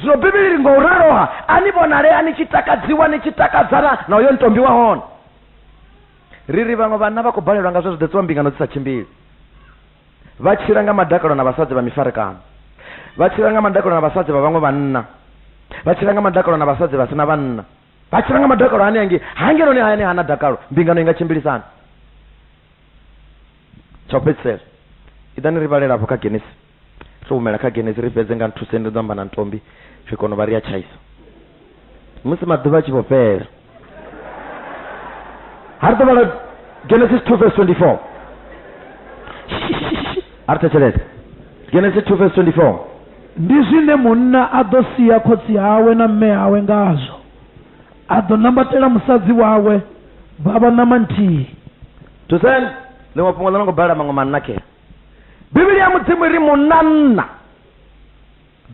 zwino bivhili ri ngo raloha a ni vhonalea ni tshi takadziwa ni tshi takadzana na uyo ntombi wa hone ri ri vhaṅwe vhanna vha khou balelwa nga zwe zwi ḓetsiwa mbingano dzi sa tshimbili vha tshila nga madakalo na vhasadzi vha mifarekano vha tshila nga madakalo na vhasadzi vha vhaṅwe vhanna vha tshila nga madakalo na vhasadzi vha sina vhanna vha tshila nga madakalo ane ange hangeloni hayani hana dakalo mbingano i nga tshimbilisana tsha u fhedzisela iḓani ri vhalela afho kha genesi Ri humela kha Genesi ri fhedze nga nthuseni ri ḓo amba na Ntombi ri kona u vha ri a tshaisa. Musi maḓuvha a tshi vho fhela. Ha ri ḓo vhala Genesis 2 verse 24. A ri thetshelese. Genesis 2 verse 24. Ndi zwine munna a ḓo sia khotsi awe na mme awe ngazwo, a ḓo nambatela musadzi wawe, vha vha ṋama nthihi. Thuseni! Ḽiṅwe fhungo ḽo no ngo balela maṅwe manna khee. bivhili ya mudzimu ri munanna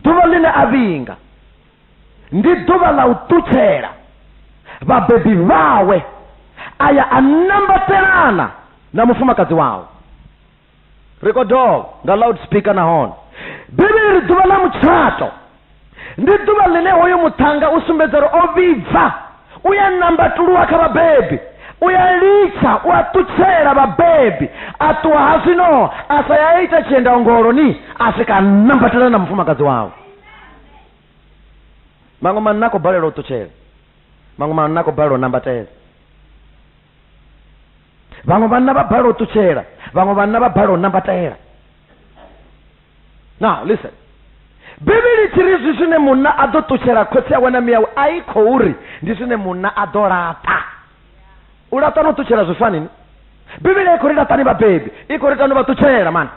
ḓuvha ḽine a vhinga ndi ḓuvha ḽa u ṱutshela vhabebi vhawe a ya a nambatelana na mufumakadzi wawe ri khou dovha nga loud speaker nahone bivhili ri ḓuvha ḽa mutshato ndi ḓuvha ḽine hoyu muṱhannga u sumbedza uri o vhibva u ya nambatuluwa kha vhabebi u ya litsha u a ṱutshela vhabebi a ṱuwa ha zwino a sa ya ita tshienda ongoloni a swika nambatela na mufumakadzi wawe maṅwe manna a khou balelwa u ṱutshela maṅwe manna a khou balelwa u nambatela vhaṅwe vhanna vha balelwa u ṱutshela vhaṅwe vhanna vha balelwa u nambatela now listen bivhili tshi ri zwi zwine munna a ḓo ṱutshela khotsi awe na miyawe a i khou ri ndi zwine munna a ḓo laṱa u laṱa no ṱutshela zwi fanini bivhili i khou ri laṱani vhabebi i khou ri tano vha ṱutshela mani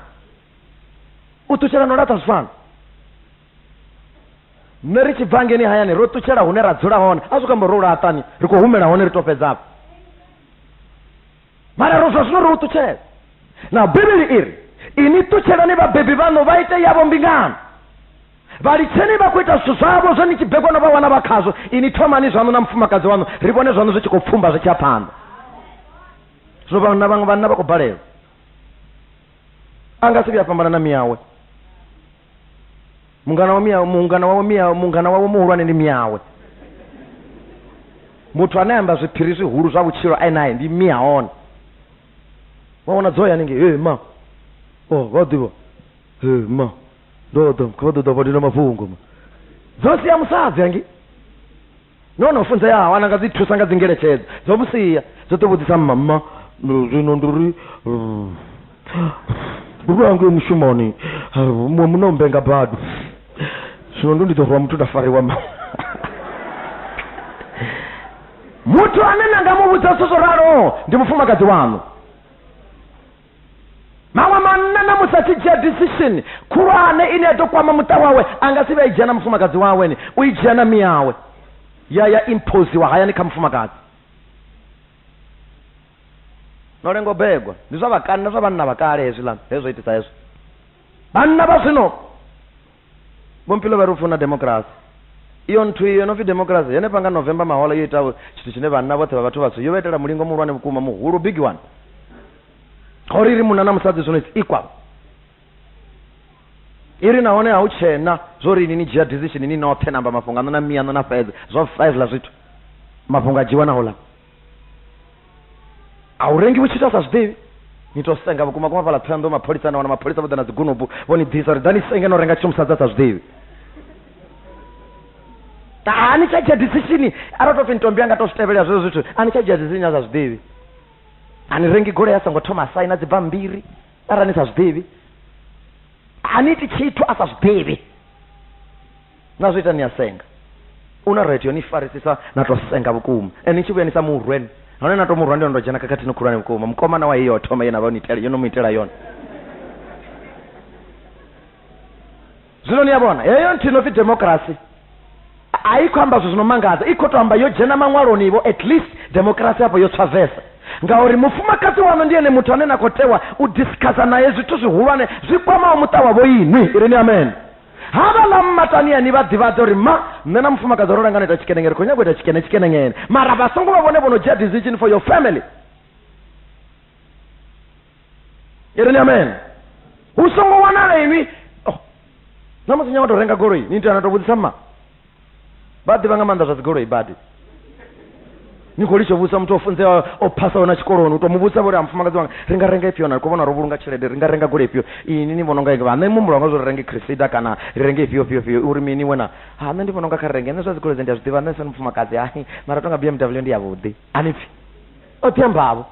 u ṱutshela no laṱa zwi fana nṋe ri tshi bva ngeni hayani ro ṱutshela hune ra dzula hone a zwi kho amba ro laṱani ri khou humela hone ri to fhedzafho mara ro zwa zwino ro u ṱutshela na bivhili i ri ini ṱutshelani vhabebi vhaṋu vha ite yavho mbingano vha litsheni vha khou ita zwithu zwavho zwe ni tshi bebwa no vha wana vha khazwo ini thomani zwaṋu na mufumakadzi waṋu ri vhone zwaṋu zwi tshi khou pfumba zwi tshi ya phanḓa zwino vhanna vhaṅwe vhanna vha khou balelwa a nga si vhuya fhambana na miyawe mungana wa mia mungana wawe mia mungana wawe muhulwane ndi miawe muthu ane amba zwiphiri zwihulu zwa vhutshilo ayi naye ndi mia one waona dzo ya ninge hey, ma oh vha ḓivha hey, ma ndo ḓa kha vha ḓo ḓa vha dina mafhungo ma dzo sia musadzi angi nahone o funzeaho ana nga dzi thusa nga dzi ngeletshedzo dzo vhusia dzo ḓo vhudzisa mmamma zwino ndi uri uri ange mushumoni muṅwe muno mbe nga badu zwino ndo ndi ḓo rwa muthu nda fariwa ma muthu ane na nga mu vhudza zwithu zwo raloho ndi mufumakadzi waṋu maṅwe manna na musi a tshi dzhia decision khulwane ine ya ḓo kwama muṱa wawe a nga si vha i dzhia na mufumakadzi wawe ni u i dzhia na miyawe ya ya imposiwa hayani kha mufumakadzi no lengo begwa ndi zwa vhakani na zwa vhanna vha kale hezwiḽa hezwo itisa hezwo vhanna vha zwino vhompilo vha ri u funa democracy iyo nthu iyo no pfi democracy henefha nga november mahola yo ita tshithu tshine vhanna vhoṱhe vha vhathu vhatswu yo vha itela mulingo muhulwane vhukuma muhulu big one gori ri munna na musadzi zwino it's equal iri nahone ha u tshena zwo ri ini ni dzhia decision ni noṱhe namba mafhungo ano na miano na fhedze zwo fhezla zwithu mafhungo a dzhiwa na hola a u rengi vhu tshi ita sa zwiḓivhi ni tou senga vhukuma kuma fhala thohoyanḓou mapholisa na wana mapholisa vho ḓa na dzigunubu vho ni ḓisa uri ḓa ni senge no renga tshithu musadza sa zwiḓivhi a ni tsha dzhia decision arali to pfi ntombi anga to zwi tevhelela zwezwo zwithu a ni tsha dzhia decision ya sa zwiḓivhi a ni rengi goloi a songo thoma saina dzibambiri arali ni sa zwiḓivhi a ni iti tshithu a sa zwiḓivhi na zwi ita ni a senga u na radio ni farisisa na to senga vhukuma and ni tshi vhuya ni sa murwen hone na to murwa ndi ndo dzhena khakhathini khulwane vhukuma mukoma na wa hiyo thoma yena vha ni itela yono mu itela yone zwino ni ya vhona heyo nthu ino pfi democracy a i khou amba zwithu zwino mangadza i khou to amba yo dzhena maṅwaloni vho at least democracy afho yo tswa vesa ngauri mufumakadzi wanu ndi ene muthu ane na khou tewa u discussa naye zwithu zwihulwane zwi kwamaho muṱa wavho inwi irini amen havhaḽa mmatania ni vha ḓivhadza uri ma nṋe na mufumakadzi ro langana ita tshikenenge ri khou nyanga u ita tshikene tshikenengene mara vha songo vha vhone vho no dzhia decision for your family i ri ni amen hu songo wanala inwi oh, na musi nyanga to renga goloi ni tea na to vhudzisa mma vha ḓivha nga maanḓa zwa dzigoloi badi ni khou litsho vhusa muthu o funzeaho o phasaho na tshikoloni u to mu vhusa vhori a mufumakadzi wanga ri nga renga ifhio na ri khou vhona ro vhulunga tshelede ri nga renga gole ifhio ini ni vhona unga vha nṋe muhumbulo wanga zwo ri renge crisida kana ri renge ifhio fhio fhio uri mini wena ha nṋe ndi vhona unga kha ri renge nṋe zwa dzigoloi dze ndi a zwi ḓivha nṋe sani mufumakadzi hai mara tonga bmw ndi yavhuḓi ani pfhi o ḓi ambavho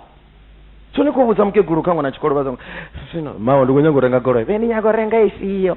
so ni khou vhudza mukegulu kha ṅwana tshikolo vha zwino mawe ndi khou nyanga u renga goloi vhe ni nyaga u renga ifhio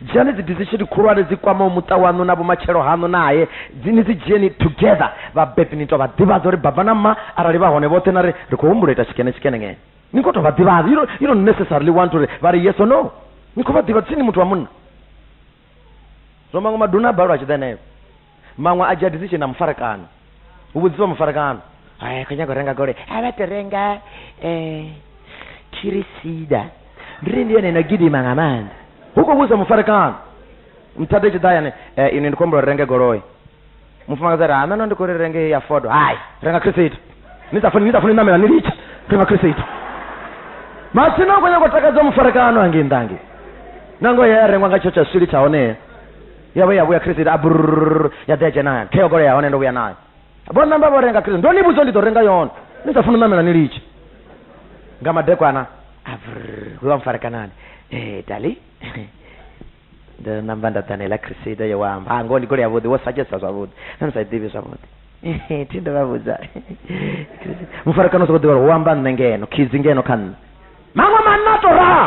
Dzhiani dzi decision khulwane dzi kwamaho muṱa waṋu na vhumatshelo haṋu nae. Dzi ni dzi dzhieni together. Vhabebi ni tou vha ḓivhadza uri baba na mma arali vha hone vhoṱhe na ri ri khou humbula u ita tshikene tshikene nge. Ni ngo tou vha ḓivhadza. You don't, you don't necessarily want uri vha ri yes or no. Ni khou vha ḓivhadza, thi ni muthu wa munna. Zwo mangwa maduna a balelwa a tshi ḓa henefho. Maṅwe a dzhia decision na mufarekano. Hu vhudziswa mufarekano. Hai kho nyaga u renga goloi. A vha to renga eh Kirisida. Ndi ri ndi yone no gidima nga maanḓa. Hu khou vhudziswa mufarekano. Muthada tshi ḓa yane eh ini ndi khou humbula renge goloi. Mufumakadzi a ri ha nṋe no ndi khou ri renge heyi ya Ford. Hai renga Kirisida. Ni sa funi ni sa funi namela ni litshe. Renga Kirisida. Matsina u khou nyaga u takadza mufarekano hangei nnḓa hangei. Nangoho ya rengwa nga tsho tsha swili tsha hone. ya vhuya vhuya credit a brrr ya ḓe dzhena hayani khe yo golea hone ndo vhuya nayo vho namba vho renga credit ndo ni vhudzo ndi ḓo renga yone ni sa funa ṋamela ni litshe nga madekwana a brrr we wa mfarekanani eh dali ndo namba nda ḓanela cresida yo wamba ha ngoho ndi golea vhuḓi wo sagesa zwavhuḓi na ni sa ḓivhi zwavhuḓi thi ndo vha vhudza mufarekano u sokou ḓivha uri wo amba nṋe ngeno khidzi ngeno kha nṋe maṅwe manna to raha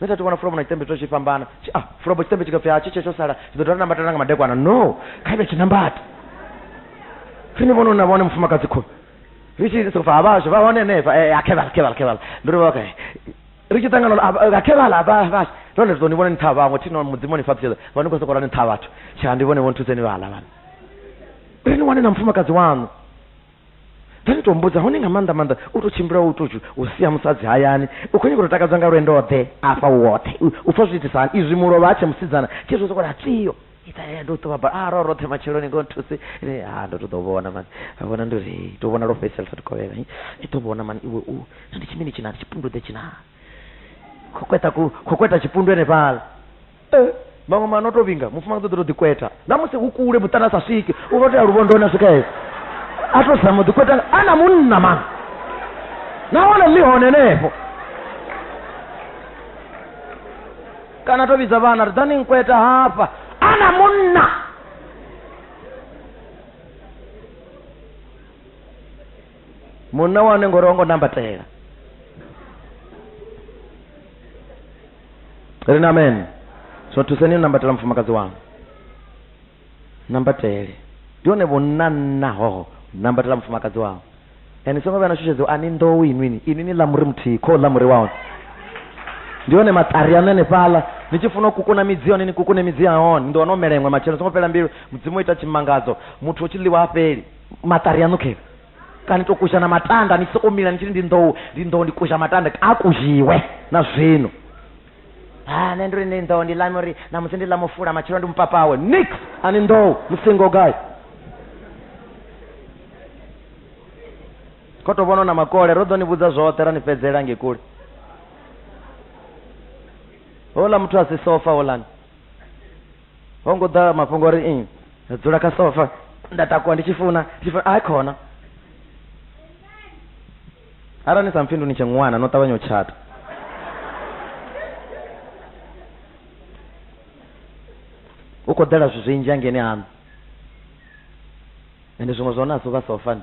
nṋe tha thi vhona fulo vhona tshiṱembe tsho tshi fhambana a ah, fulo bo tshiṱembe tshi khapfi ha tshi tshe tsho sala tshi ḓo dovha nambata nanga madekwana no kha ibe tshi nambata ri ni vhona na vhone mufumakadzi khou ri tshi soko fa havhasho vha hone henefha eh, a khevala khevala khevala ndo ri vha kae ri tshi ṱangana a khevala havhasho none ri ḓo ni vhona ni ṱha vhaṅwe thi no mudzimu ni fhaṱutshedza vha ni khou soko ra ni ṱha vhathu tsha ndi vhone vho nthuseni vhala vhana ri ni wane na mufumakadzi waṋu Then ni to mmbudza hone nga maanḓa maanḓa u to tshimbila u to u sia musadzi hayani u khou nyanga u takadzwa nga lwendo ḓe afha u woṱhe u pfha zwi itisa hani izwi mulovha a tshe musidzana tshi zwo sokola tswiyo ita ya ndo ṱuwa ba a ro roṱhe matsheloni ngo nthuse ni ha ndo to ḓo vhona mani a vhona ndo ri to vhona lwo fhedzisela sa tovhela i to vhona mani iwe u ndi tshimini tshina tshipundudze tshina khokweta ku khokweta tshipundwe henefhala eh, maṅwe mana o to vhinga mufumakadzi ḓo to ḓikweta na musi hu kule muṱana sa swiki u vha tea luvhondoni a swika hezwo a to zama u ḓikweta a na munna ma nahone ḽi hone henefho kana to vhidza vhana ri ḓani nkweta hafha a na munna munna wa hone ngori o ngo nambatela ri na amen so thuseni u nambatela mufumakadzi wanu nambatele ndi hone vhunanna hoho nambatela mufumakadzi wanu and songo vhuya na shushedziwa ani nḓowu inwini ini ni ḽa muri muthihi kho ḽa muri wa hone ndi hone maṱari ano enefhaḽa ni tshi funa u kukuna midzi yone ni kukune midzi ya hone ni ḓo wana o mela iṅwe matshelo songo fhela mbilu mudzimu o ita tshimangadzo muthu o tshi ḽiwa ha fheli maṱari aṋu khe kana to kuzha na matanda ni tshi soko mila ni tshiri ndi nḓou ndi nḓou ndi kuzha matanda a kuzhiwe na zwino ha nṋe ndiri ndi nḓou ndi lame uri na musi ndi ḽa mufula matshelo ndi mupapawe nix ani nḓou musingo gai kho to vhona na makole ro ḓo ni vhudza zwoṱhe ra ni fhedzela nge kule hola muthu a si sofa holani ho ngo ḓa mafhungo ri i dzula kha sofa nda takuwa ndi tshi funa tshi funa a khona arali ni sa mphindu ni tshe ṅwana no ṱavhanya u tshata u khou ḓela zwithu zwinzhi angeni haṋu ende zwiṅwe zwa hone a si u vha sofani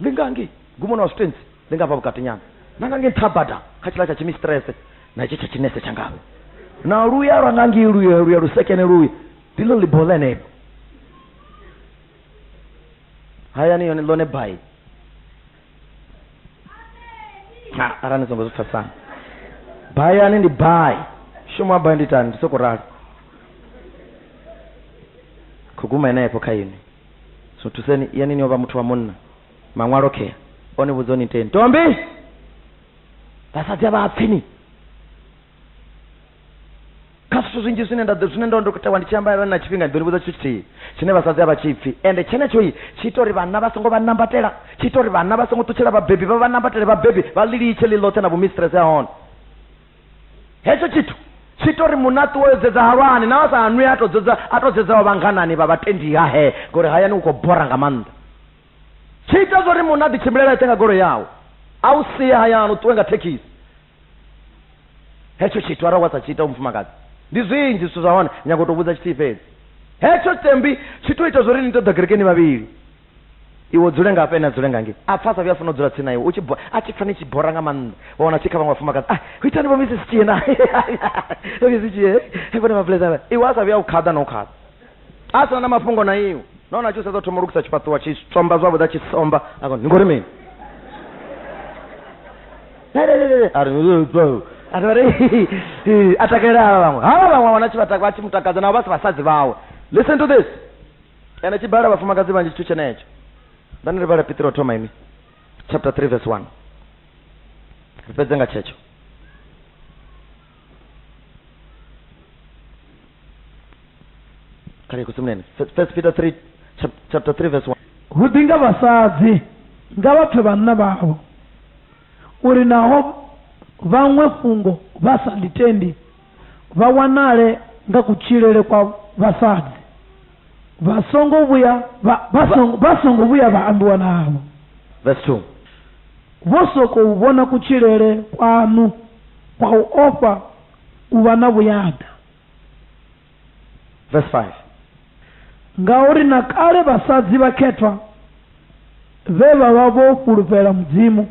Ndi nga ngei gumoni wa zwitentsi, ndi nga hafha vhukatinyana, na nga ngei nṱha bada kha tshiḽa tsha tshimisiṱirese, na hetshi tsha tshinese tsha ngavhe, na luya lwa nga ngei, luya, luya lusekene luya, ndi ḽo ḽiboho ḽenelo. Hayani yone ḽone bai. Ha, arali ni songo zwi pfesana. Bayani ndi bai. Shumo wa bai ndi itani, ndi sokou ralo. Khou guma henefho kha inwi. So thuseni yani ni o vha muthu wa munna. Maṅwalo khea o ni vhudza ni iteni. Tombi! Vhasadzi a vha pfi ni. Kha zwithu zwinzhi zwine nda zwine ndo ndo tewa ndi tshi amba na tshifhinga ndi ḓo ni vhudza tshithu tshithihi tshine vhasadzi a vha tshi pfi. Ende tshenetsho tshi ita uri vhanna vha songo vha nambatela, tshi ita uri vhanna vha songo ṱutshela vhabebi vha vha nambatele vhabebi vha ḽi litshe ḽi ḽoṱhe na vhumistrese ha hone. hetsho tshithu tshi ita uri munaṱi wo dzedza halwani na vha sa hanwi a to dzedza a to dzedza vha vhanganani vha vhatendi ha he ngori hayani u khou bora nga maanḓa tshi ita zwa uri munaḓi tshimbilela eṱhe nga golo yawo a u sie hayani u ṱuwe nga thekhisi hetsho tshithu arali wa sa tshi ita umufumakadzi ndi zwinzhi zwithu zwa hone nyago u to vhudza tshithihi fhedzi hetsho tshitembi tshi to ita zwa uri ni to ḓa kerekeni vhavhili iwe dzule nga hafha ene a dzule nga ngei a pfa a sa vhuya a funa u dzula tsini na iwe a tshi pfa ni tshi bora nga maanḓa wa wana tshi kha vhaṅwe vhafumakadzi ah ho itani vho misi sitshie na misi sitshie vhone vhablezana iwe a sa vhuya u khaḓa na u khaḓa a sina na mafhungo na iwe nahone a tshi u sedza thoma u lukisa tshifhaṱuwa tshi tsomba zwavhuḓi a tshi somba a kona ni ngori mini a takalela havha vhaṅwe havha vhaṅwe wana tshi vha tshi mu takadza navho vha si vhasadzi vhawe listen to this ene tshi bala vhafumakadzi vhanzhi tshithu tshenetsho ndani ri vhala pitiro thoma ini chapter 3 verse 1 ri fhedze nga tshetsho kale kusimuleni first peter 3 chapter 3 verse 1 hu ḓi nga vhasadzi nga vha pfe vhanna vhavho uri naho vhaṅwe fhungo vha sa ḽitendi vha wanale nga kutshilele kwa vhasadzi vha songo vhuya vha, vha, songo, vha songo vhuya vha ambiwa navho Verse 2. vho sokou vhona kutshilele kwaṋu kwa u ofha u vha na vhuyaḓa Verse 5. ngauri na kale vhasadzi vhakhethwa vhe vha vha vho fhulufhela mudzimu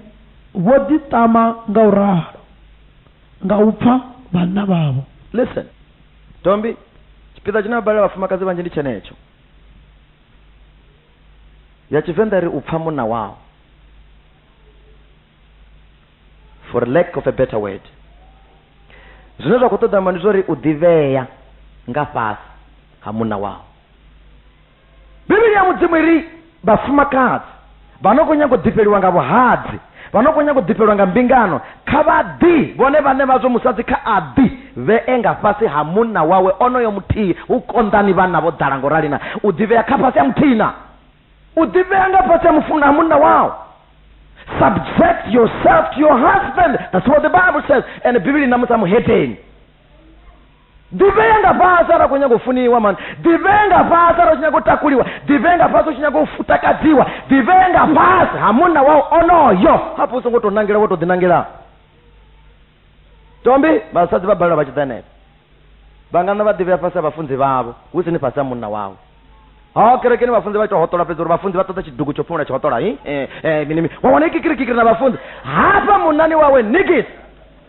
vho ḓiṱama nga u ralo nga u pfa vhanna vhavho. Listen. Dombi, tshipiḓa tshine vha balela vhafumakadzi vhanzhi ndi tshenetsho. Ya Tshivenḓa ri u pfa munna wao. For lack of a better word. Zwine zwa khou ṱoḓa ndi zwa uri u ḓivhea nga fhasi ha munna wao. Bivhili ya Mudzimu i ri, Vhafumakadzi vha no khou nyaga u ḓifheliwa nga vhuhadzi, vha no khou nyaga u ḓifheliwa nga mbingano, kha vha ḓi, vhone vhaṋe vhazwo, musadzi kha a ḓi vhee nga fhasi ha munna wawe onoyo muthihi. Hu konḓani vhanna vho ḓala nga u rali na u ḓivhea kha fhasi ha muthihi na u ḓivhea nga fhasi ha mufunwa ha munna wao. Subject yourself to your husband, that's what the Bible says. Ene Bivhili i na musa muhedeni. ḓivhea nga fhasi arali khou nyanga u funiwa mani ḓivhea nga fhasi arali u tshi nyanga u takuliwa ḓivhea nga fhasi u tshi nyanga u takadziwa ḓivhea nga fhasi ha munna wau onoyo hafho u songo tou nangela wo tou ḓinangela tombi vhasadzi vha balelwa vha tshi ḓa henefho vha nga na vha ḓivhea fhasi ha vhafunzi vhavho hu si ni fhasi ha munna wawe ha kerekeni vhafunzi vha ita hoṱola fhedzi uri vhafunzi vha ṱoḓa tshidugu tsho phumula tshihoṱola hi eh, eh, mini mini wa wana ikikirikikiri na vhafunzi hafha munani wawe nigisi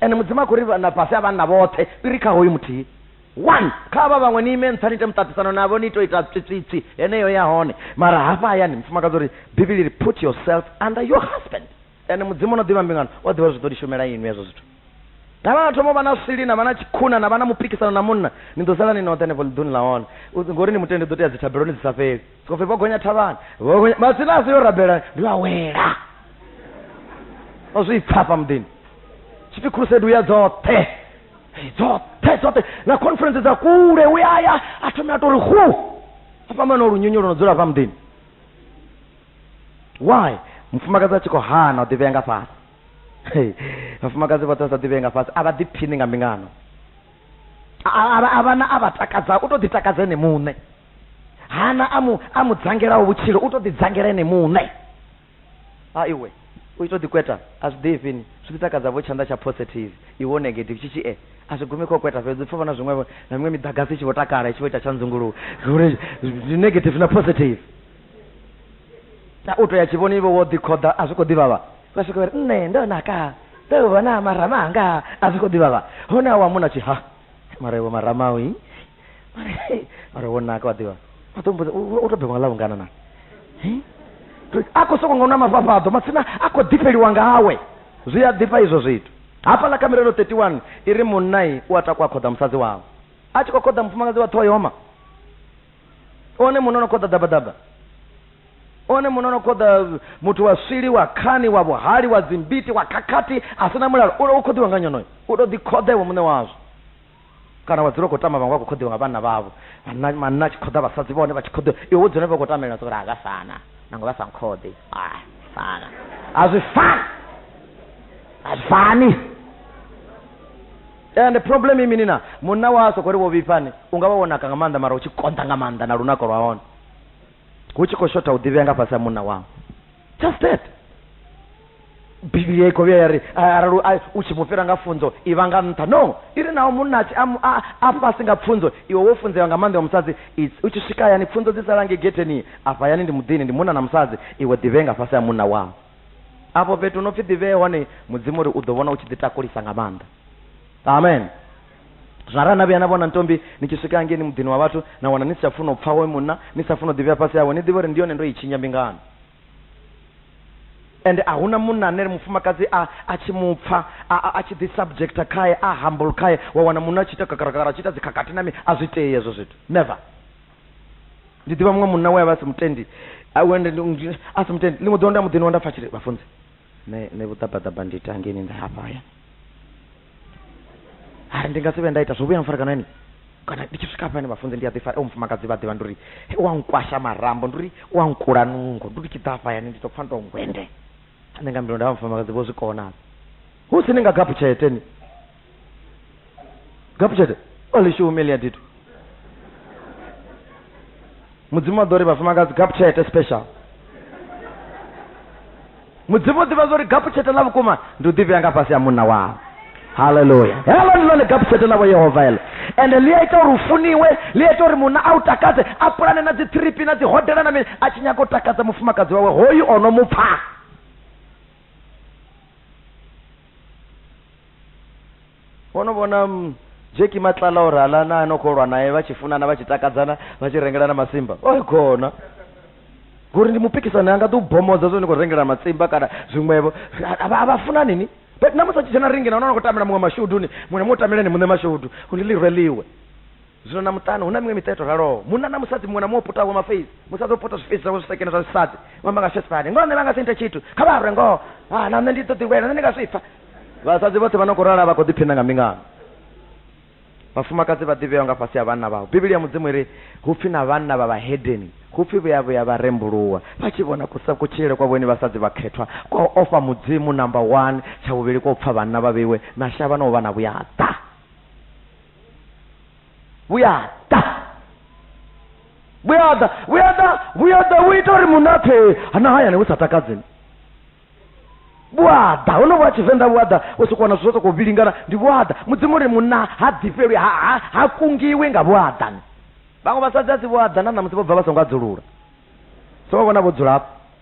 ene mudzimu a khou ri na fhasi a vhanna vhoṱhe iri kha hoyu muthihi one kha vha vhaṅwe ni ime ntsani ite muṱaṱisano navho ni ito ita tswitswitswi heneyo ya hone mara hafha hayani mufumakadzi uri bivhili ri put yourself under your husband ene mudzimu o no ḓivha mbingano o ḓivha zwi ḓo ni shumela inwi hezwo zwithu na vha thoma vha na swili na vha na tshikhuna na vha na mupikisano na munna ni ḓo sala ni noṱhe henefho ḽiḓuni ḽa hone ngori ni mutende ḓo tea dzithabeloni dzi sa fheli khou pfi vho gonya thavhani vho gonya matsina a si yo rabela ndi vha wela o zwi pfa hafha muḓini tshipfi crusade u ya dzoṱhe Hey, dzoṱhe dzoṱhe na conference dza kule u ya ya a thome a tori hu a fhambana o lunyunyu lwo no dzula hafha muḓini why mufumakadzi a tshi khou hana u ḓivhea nga fhasi Hey, vhafumakadzi vhoṱhe vha sa ḓivhee nga fhasi a vha ḓiphini nga mbingano a vha na a vha takadza u tou ḓitakadza ene muṋe hana a mu a mu dzangelaho vhutshilo u to ḓi dzangela ene muṋe a iwe u ito ḓi kweta a zwi ḓifhi ni zwi ḓi takadza vho tshanḓa tsha positive iwo negative tshi tshi e a zwi gumi kho kweta fhedzi pfa vhona zwiṅwe na miṅwe miḓagasi i tshi vho takala i tshi vho ita tsha nzunguluwo uri ndi negative na positive na u to ya tshivhoni iwe wo ḓi khoḓa a zwi khou ḓivhavha vha swika uri nṋe ndo naka ndo vhona marama anga a zwi khou ḓivhavha hone a wa muna tshi ha mara iwe marama ui mara wo naka wa ḓivha a ḓo mbuza u to bebwa nga ḽavhungana na a khou soko nga u na mafhafhaḓo matsina a khou ḓifheliwa ngawe zwi a ḓifha izwo zwithu hafhaḽa kha mirero 31 i ri munnai u a takwa a khoḓa musadzi wawe a tshi khou khoḓa mufumakadzi wa ṱhoyoma one munna no khoḓa ḓabaḓaba one munna no khoḓa muthu wa swili wa khani wa vhuhali wa dzimbiti wa khakhathi a si na mulalo u khoḓiwa nga nyonoyo u to ḓi khoḓa iwe muṋe wazwo Kana wa dzula u khou tama vhaṅwe vha khou khoḓiwa nga vhanna vhavho, vhanna manna a tshi khoḓa vhasadzi vhahone vha tshi khoḓiwa, iwe wo dzula henefho u khou tamelela soko ri a zwi a fana, nangwe vha sa nkhoḓi, a fana. A zwi fani. A zwi fani. And problem i mini na munna wa soko ri vho vhifhani, unga vha wo naka nga maanḓa mara u tshi konḓa nga maanḓa na lunako lwa hone. hu tshi khou shotha u ḓivhea nga fhasi ha munna wau just that bivhili i khou vhuya ya ri arali u tshi mu fhira nga funzo i vha nga nṱha no i ri naho munna atshi a fhasi nga pfunzo iwe wo funzewa nga maanḓa wa musadzi u tshi swika hayani pfunzo dzi salange getheni afha hayani ndi muḓini ndi munna na musadzi iwe ḓivhee nga fhasi ha munna wau afho fhethu no pfi ḓivhee hone mudzimu uri u ḓo vhona u tshi ḓi takulisa nga maanḓa amen Zwara, Na vhuya na vhona ntombi ni tshi swika hangeini muḓini wa vhathu na wana ni si tsha funa u pfa hoyo munna, ni sa funi u ḓivhea fhasi hawe, ni ḓivhe uri ndi yone ndo i tshinya mbingano. Ende a hu na munna ane mufumakadzi a, a tshi mu pfa, a, a, a tshi ḓi subjecta khae, a humble khae, wa wana munna a tshi ita kakarakakara, a tshi ita dzikhakhathi na mini, a zwi tei hezwo zwithu. Never. Ndi ḓivha muṅwe munna we a vha a si mutendi, a, a si mutendi. Ḽiṅwe ḓuvha ndo ya muḓini wawe nda pfa a tshi ri, Vhafunzi, nṋe nṋe vhuṱabaṱaba ndi ita ngeni nda hafha hayani hari ndi nga si vhe nda ita zwo vhuya mfarekana yani kana ndi tshi swika hafhani vhafunzi ndi a ḓifara o mufumakadzi vha ḓivha ndi uri "He, wa nkwasha marambo ndi uri wa nkula nungo ndi uri tshi ḓa hafha hayani ndi to pfa ndo ngwende nṋe nga mbilu nda vha mufumakadzi vho zwi kona hu si ni nga gaphutshete ni gapchete only she humiliated you mudzimu wa ḓo ri vhafumakadzi gapchete special mudzimu u ḓivha zwori gapchete ḽa vhukuma ndi u ḓivhea nga fhasi ha munna wawe haleluya helo ndi ḽone gapchete ḽavho yehova heḽo ende ḽi a ita uri u funiwe ḽi a ita uri munna a u takadze a pulane na dzi thiripi na dzi hodela na mini a tshi nyaga u takadza mufumakadzi wawe hoyu o no mu pfha wo no vhona mm, jeki matlala uri hala na no kholwa naye vha tshi funana vha tshi takadzana vha tshi rengelana masimba o khona ngori ndi mupikisano yanga ḓi u bomodza zwo ni khou rengelana matsimba kana zwiṅwevho a vha funani ni but namusi a tshi dzhena ringi na hone a no khou tamela muṅwe mashuduni muṅwe na muṅwe tameleni muṋe mashudu uri ḽi rweliwe zwino na muṱani hu na miṅwe miṱa i to raloho munna na musadzi muṅwe na muṅwe o putavho mafeisi musadzi o puta zwifeisi zwawe zwisekene zwa zwisadzi ṅwamba nga shesifani ngoho nṋe vha nga si nte tshithu kha vha rwe ngoho a na nṋe ndi ḓo ḓiwela nṋe ndi nga zwi pfa vhasadzi vhoṱhe vha no khou rala vha khou ḓiphina nga mbingano vhafumakadzi vha ḓivheaho nga fhasi ha vhanna vhavho bivhili ya mudzimu iri hu pfi na vhanna vha vhahedeni hu pfi vhuya vhuya vha rembuluwa vha tshi vhona kusa kutshilele kwa vhone vhasadzi vhakhethwa kwa u ofha mudzimu namba one tsha vhuvhili kwa u pfa vhanna vha vheiwe na shavha na u vha na vhuyaḓa vhuyaḓa vhuyaḓa vhuyaḓa vhuyaḓa vhu ita uri munna pfe hana hayani hu sa takadzeni vhuaḓa ho no vha tshivenḓa vhuaḓa u soko wana zwithu zwo sokou vhilingana ndi vhuaḓa mudzimu uri munna ha ḓifhelwi ha, ha, ha kungiwi nga vhuaḓani vhaṅwe vhasadzi a si vhuaḓa na ṋamusi vho bva vha songo adzulula so vha vhona vho dzula hafho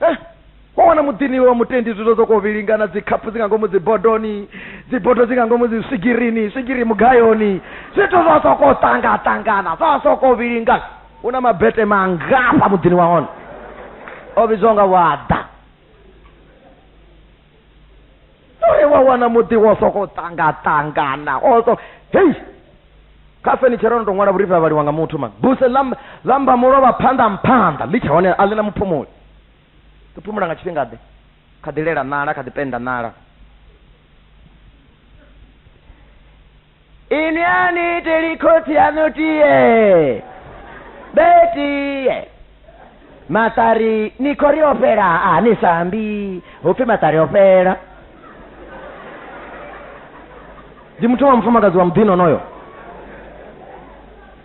eh? wa wana muḓini iwe wa mutendi zwithu zwo khou vhilingana dzikhaphu dzi nga ngomu dzibodoni dzibodo dzi nga ngomu dzi swigirini swigiri mugayoni zwithu zwa sokou ṱangaṱangana zwa sokou vhilingana hu na mabete mangafha muḓini wa hone o vhidzwa nga waḓa oe wa wana muḓi wo soko ṱangaṱangana o so hei kha fenitshera ono to ṅwala vhurifhi ha vhaliwa nga muthu mani buse lamba mulovha phanḓa mphanḓa ḽi tsha hone a ḽi na muphumuli ḽi phumula nga tshifhinga ḓe kha ḓi lela nala kha ḓi penda nala Ini ani tili khotsi yanu tiye betiye maṱari ni khou ri o fhela a ni sa ambi hu pfi maṱari o fhela ndi muthu wa mufumakadzi wa muḓini onoyo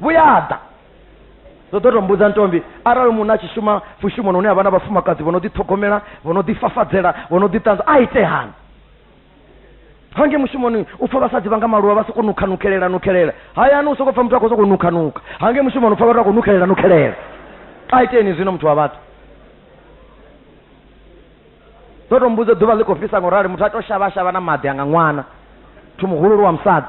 vhuyaḓa ndo ḓo to mbudza ntombi arali munna a tshi shuma fushumoni hune havha na vhafumakadzi vho no ḓiṱhogomela vho no ḓifafadzela vho no ḓiṱanza a itehani hange mushumoni u pfa vhasadzi vha nga maluvha vha soko nukha nukhelela nukhelela hayani u soko pfa muthu a khou soko nukha nukha hange mushumoni u pfa vhathu a khou nukhelela nukhelela a iteni zwino muthu wa vhathu ndo to mbudza ḓuvha ḽi khou fhisa ngo rali muthu a to shavha shavha na maḓi anga ṅwana muthu muhululu wa musadzi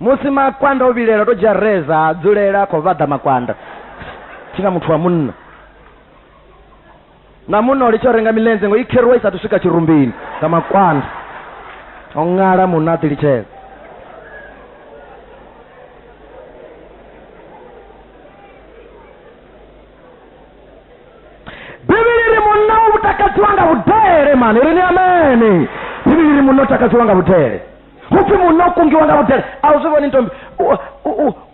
musi makwanda o vhilela to dzhia reza ha dzulela khou vhaḓa makwanda thi na muthu wa munna na munna o litsha u renga milenzhe ngo i kheruwa i sathu swika tshirumbini nga makwanda o ṅala munna a ḓi litshela bivhili ri munna u takadziwa nga vhudele mani ri ni amene bivhili ri munna u takadziwa nga vhudele musi muno kungiwa nga vhudele a u zwi vhoni ntombi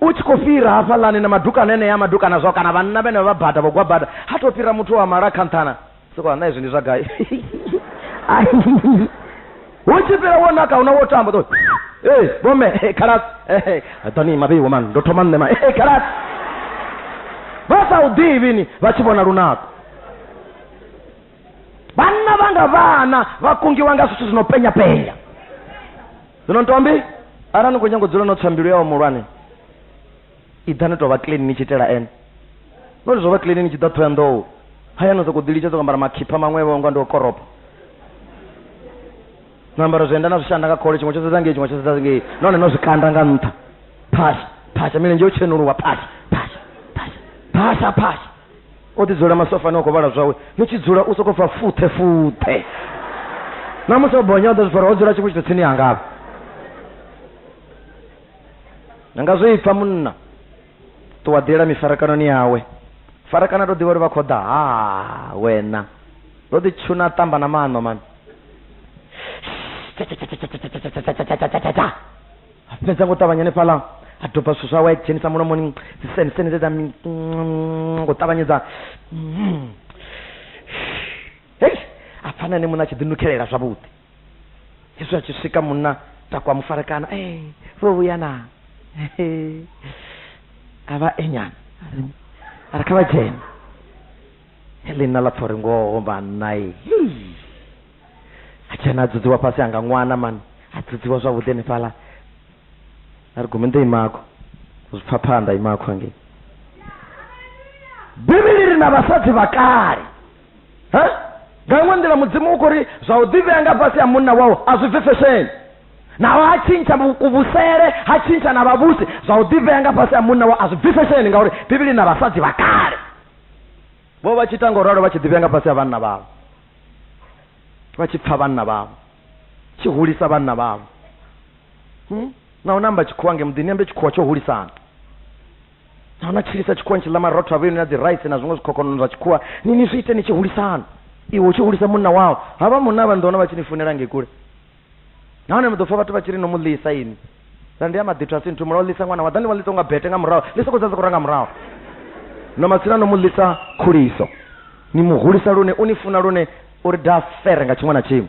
u tshi khou fhira hafhaḽani na madukana enea madukana zwo kana vhanna vhene vha bada vho gwa bada ha tou fhira muthu wa mala kha nṱhana soko na izwi ndi zwa gai hu tshi fhira wo naka huna wo tamba to ee vhome khalas doni mabe wo man ndo thoma nṋe ma khalas vha sa u ḓivhini vha tshi vhona lunako vana vanga vana vakungiwa nga zwithu zvinopenya penya zwino ntombi arali ni khou nyanga u dzula no tswa mbilu yawo muhulwane iḓani tovha clean ni tshi itela ene nori zwo vha clean ni tshi ḓa thoya nḓou haya no sokou ḓilitsha sokou ambara makhipha maṅwevho nga ndi o koropa no ambara zwienda na zwishanda nga khole tshiṅwe tsho sedza ngei tshiṅwe tsho sedza ngei nahone no zwikanda nga nṱha phasha phasha milenzhe yo tshenuluwa phasha phasha phasha phasha phasha o ḓi dzula masofani o khou vhala zwawe ni tshi dzula u sokou pfa futhe futhe na musi o bonya o ḓo zwifara o dzula tshiṅwe tshithu tsini yanga avha ni nga zwi pfa munna ṱuwa ḓila mifarakanoni yawe farakana to ḓivha uri vha khou ḓa ha wena ndo ḓi tshuna ṱamba na maṋo mani a fhedza ngo ṱavhanya hanefhaḽa a doba zwithu zwawe a dzhenisa mulomoni dziseniseni dze dza ngo ṱavhanyedza hei a pfana ane munna a tshi ḓinukhelela zwavhuḓi hezwi a tshi swika munna takwa mufarekana e eh, ro vhuya na a vha enyana a ri kha vha dzhene helena ḽa pfha uri ngoho vhanna e achena adzodziwa pasi anga mwana mani adzodziwa zvavhuḓi hanefhala ari gomende imako zvipfaphanda imako hange bivhili ri na vhasadzi vha kale ha nga iṅwe nḓila mudzimu u khou ri zwa u ḓivhea nga fhasi ha munna wau a zwi bvi fesheni naho ha tshintsha kuvhusele ha tshintsha na vhavhusi zwa u ḓivhea nga fhasi ha munna wau a zwi bvi fesheni ngauri bivhili na vhasadzi vha kale vho vha tshi ita ngo ralo vha tshi ḓivhea nga fhasi ha vhanna vhavho vha tshi pfa vhanna vhavho tshi hulisa vhanna vhavho hmm? na u namba tshikhuwa nge muḓini ambe tshikhuwa tsho hulisana na una tshilisa tshikhuwa tshi ḽa marotho a vhuyoni na dzi rice na zwiṅwe zwikhokhonono zwa tshikhuwa ni ni zwi ite ni tshi hulisana iwe u tshi hulisa munna wao havha munna vha nḓona vha tshi ni funela ngei kule nahone ni ḓo pfa vhathu vha tshi ri no mu ḽisa ini ra ndi ya maḓithu a si nthu mula o ḽisa ṅwana wa ḓa ni wa ḽisa nga bete nga murahu ḽi sokou dza sokou ra nga murahu no matsina no mu ḽisa khuliso ni mu hulisa lune u ni funa lune uri da fere nga tshiṅwe na tshiṅwe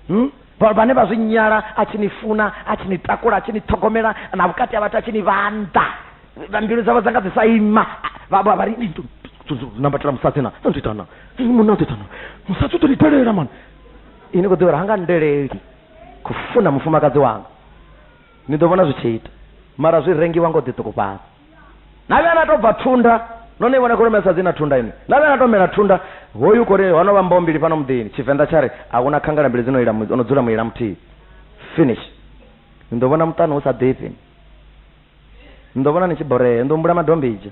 hmm? vhane vha zwi nyala a tshi ni funa a tshi ni takula a tshi ni ṱhogomela na vhukati ha vhathu a tshi ni vhanḓa mbilu dzavho dza nga dzi sa ima vha ri nambatela musadzi na ndo itana munna ndo itana musadzi u ḓo ni telela mani ini khou ḓivha uri ha nga ndeleli khou funa mufumakadzi wanga ni ḓo vhona zwi tshi ita mara zwi rengiwa ngo ḓiṱukufhadza na vhuya na tou bva thunda no ni vhona kholomo ya sadzi na thunda ini na vhuya na tou mela thunda hoyu kori ho no vha mboho mbili fhano muḓini tshivenḓa tsha ri a huna khangala mbili dzi no ila mu- o no dzula muila muthihi finish ni ḓo vhona muṱani hu sa ḓifhi Ni ḓo vhona ni tshi borea. Ni ḓo humbula madombidzha.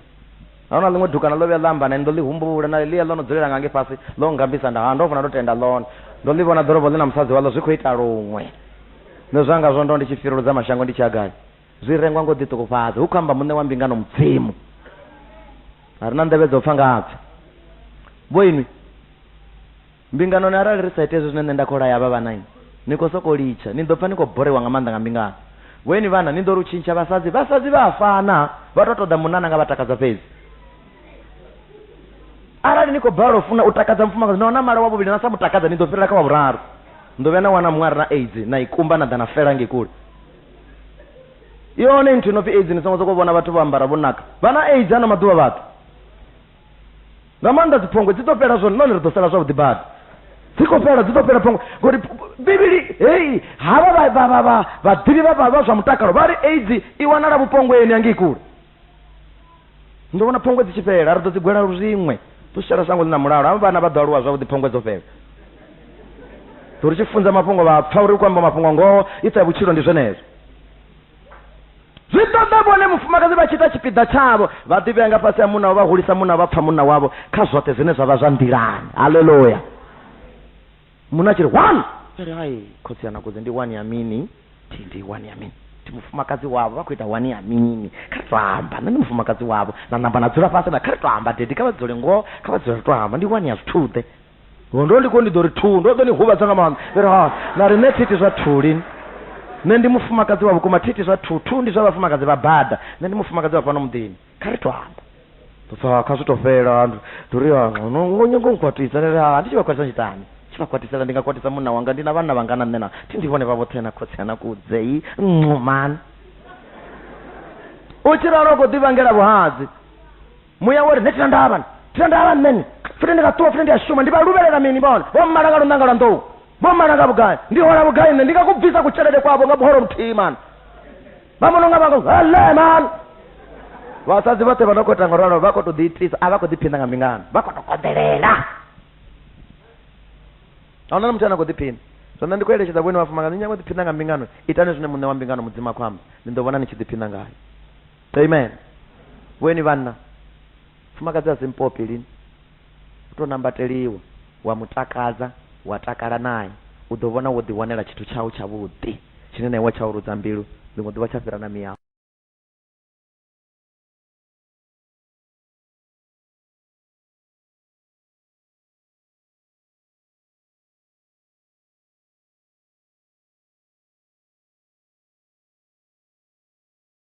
A hu na ḽiṅwe dukana ḽo vhuya ḽa amba na nṋe. Ni ḓo ḽi humbula. Na ḽia ḽo no dzulela nga ngei fhasi, ḽo nngambisa nda. Ha, ndo vhona ndo tenda ḽone. Ndo ḽi vhona ḓorobo ḽi na musadzi waḽo zwi khou ita luṅwe. Nṋe zwanga zwo ndo ndi tshi firuludza mashango ndi tshi ya gai? Zwi rengwa nga u ḓiṱukufhadza, hu khou amba Muṋe wa mbingano, Mudzimu. A ri na nḓevhe dza u pfa nga ha Pfi. Vhoinwi? Mbinganoni, arali ri sa iti hezwo zwine nṋe nda khou laya havha vhana, ni khou sokou litsha. Ni ḓo pfa ni khou boriwa nga maanḓa nga mbingano. Vhoeni vhana, ni ḓo ri u tshintsha vhasadzi. Vhasadzi vha a fana, vha tou ṱoḓa munna ane a nga vha takadza fhedzi. Arali ni khou balelwa u funa u takadza mufumakadzi, na wana mala wa vhuvhili na sa mu takadza, ni ḓo fhirela kha wa vhuraru. Ni ḓo vhuya na wana muṅwe a re na aids, na i kumba na ḓa na fela ngei kule. I hone nthu i no pfi aids, ni songo sokou vhona vhathu vho ambara vho naka. Vha na aids ano maḓuvha vhathu. nga maanḓa dziphongwe dzi ḓo fhela zwone nahone ri ḓo sala zwavhuḓi badi dzi khou fhela dzi ḓo fhela phongwe ngori bivhili hei havha vhaḓivhi vha zwa mutakalo vha ri aids i wanala vhupongweni angei kule ndo vhona phongwe dzi tshi fhela ri ḓo dzi gwela luziṅwe ḓo shela shango ḽi na mulalo avha vhana vha ḓo aluwa zwavhuḓi phongwe dzo fhela ḓo ri tshi funza mafhungo vha pfa uri u khou amba mafhungo ngoho i ṱa vhutshilo ndi zwenezwo zwi ṱoḓa vhone mufumakadzi vha tshi ita tshipiḓa tshavho vha ḓivhea nga fhasi ha munna wavho vha hulisa munna vha pfha munna wavho kha zwoṱhe zwine zwa vha zwa nḓilani haleluya munna a tshi ri one ri hai khotsi yana kudzi ndi one ya mini thi ndi one ya mini ndi mufumakadzi wavho vha khou ita one ya mini kha ri to amba nṋe ndi mufumakadzi wavho na namba na dzula fhasi na kha ri to amba dedi kha vha dzule ngoho kha vha dzule ri to amba ndi one ya zwithuḓe Ho ndo ndi ko ndi ḓo ri thuu, ndo ḓo ni huvhadza nga maanḓa. Ndi ri ha, na ri nṋe thi iti zwa thuu lini. Nṋe ndi mufumakadzi wa vhukuma, thi iti zwa thuu. Thuu ndi zwa vhafumakadzi vha bada, nṋe ndi mufumakadzi wa fhano muḓini. Kha ri to amba. Ndo pfa ha, kha zwi to fhela. Ndo ri ha, no, no nyanga u nkwatisa? Ndi ri ha, ndi tshi vha kwatisa ndi tshi itani? Tshi vha kwatisela, ndi nga kwatisa munna wanga, ndi na vhanna vhangana nṋe na, thi ndi vhone vha vhoṱhe na khotsi ana kudze yi, nxu man. U tshi ralo u khou ḓi vhangela vhuhadzi. muya wori nṋe thina ndavhana thina ndavha nṋeni futhi ndi nga ṱuwa futhi ndi a shuma ndi vha luvhelela mini vhona vho mmala nga lunanga lwa nḓou vho mmala nga vhugai ndi hola vhugai nṋe ndi nga ku bvisa kutshelede kwavho nga buholo muthihi mani vha mono nga vhanga hele mani vhasadzi vhoṱhe vha no khou ita nga ralo vha khou tou ḓiitisa a vha khou ḓiphina nga mbingano vha khou tou konḓelela a huna na muthu ane a khou ḓiphina so nṋe ndi khou eletshedza vhone vhafumakadzi ni nyanga u ḓiphina nga mbingano itani zwine muṋe wa mbingano mudzimu a khou amba ni ḓo vhona ni tshi ḓiphina ngayo amen weni vhanna fumakadzi a si mpopi lini u tou nambateliwa wa mu takadza wa takala naye u ḓo vhona wo ḓiwanela tshithu tshau tshavhuḓi tshine na iwe tsha u rudza mbilu ḽiṅwe ḓuvha tsha fhira na miyau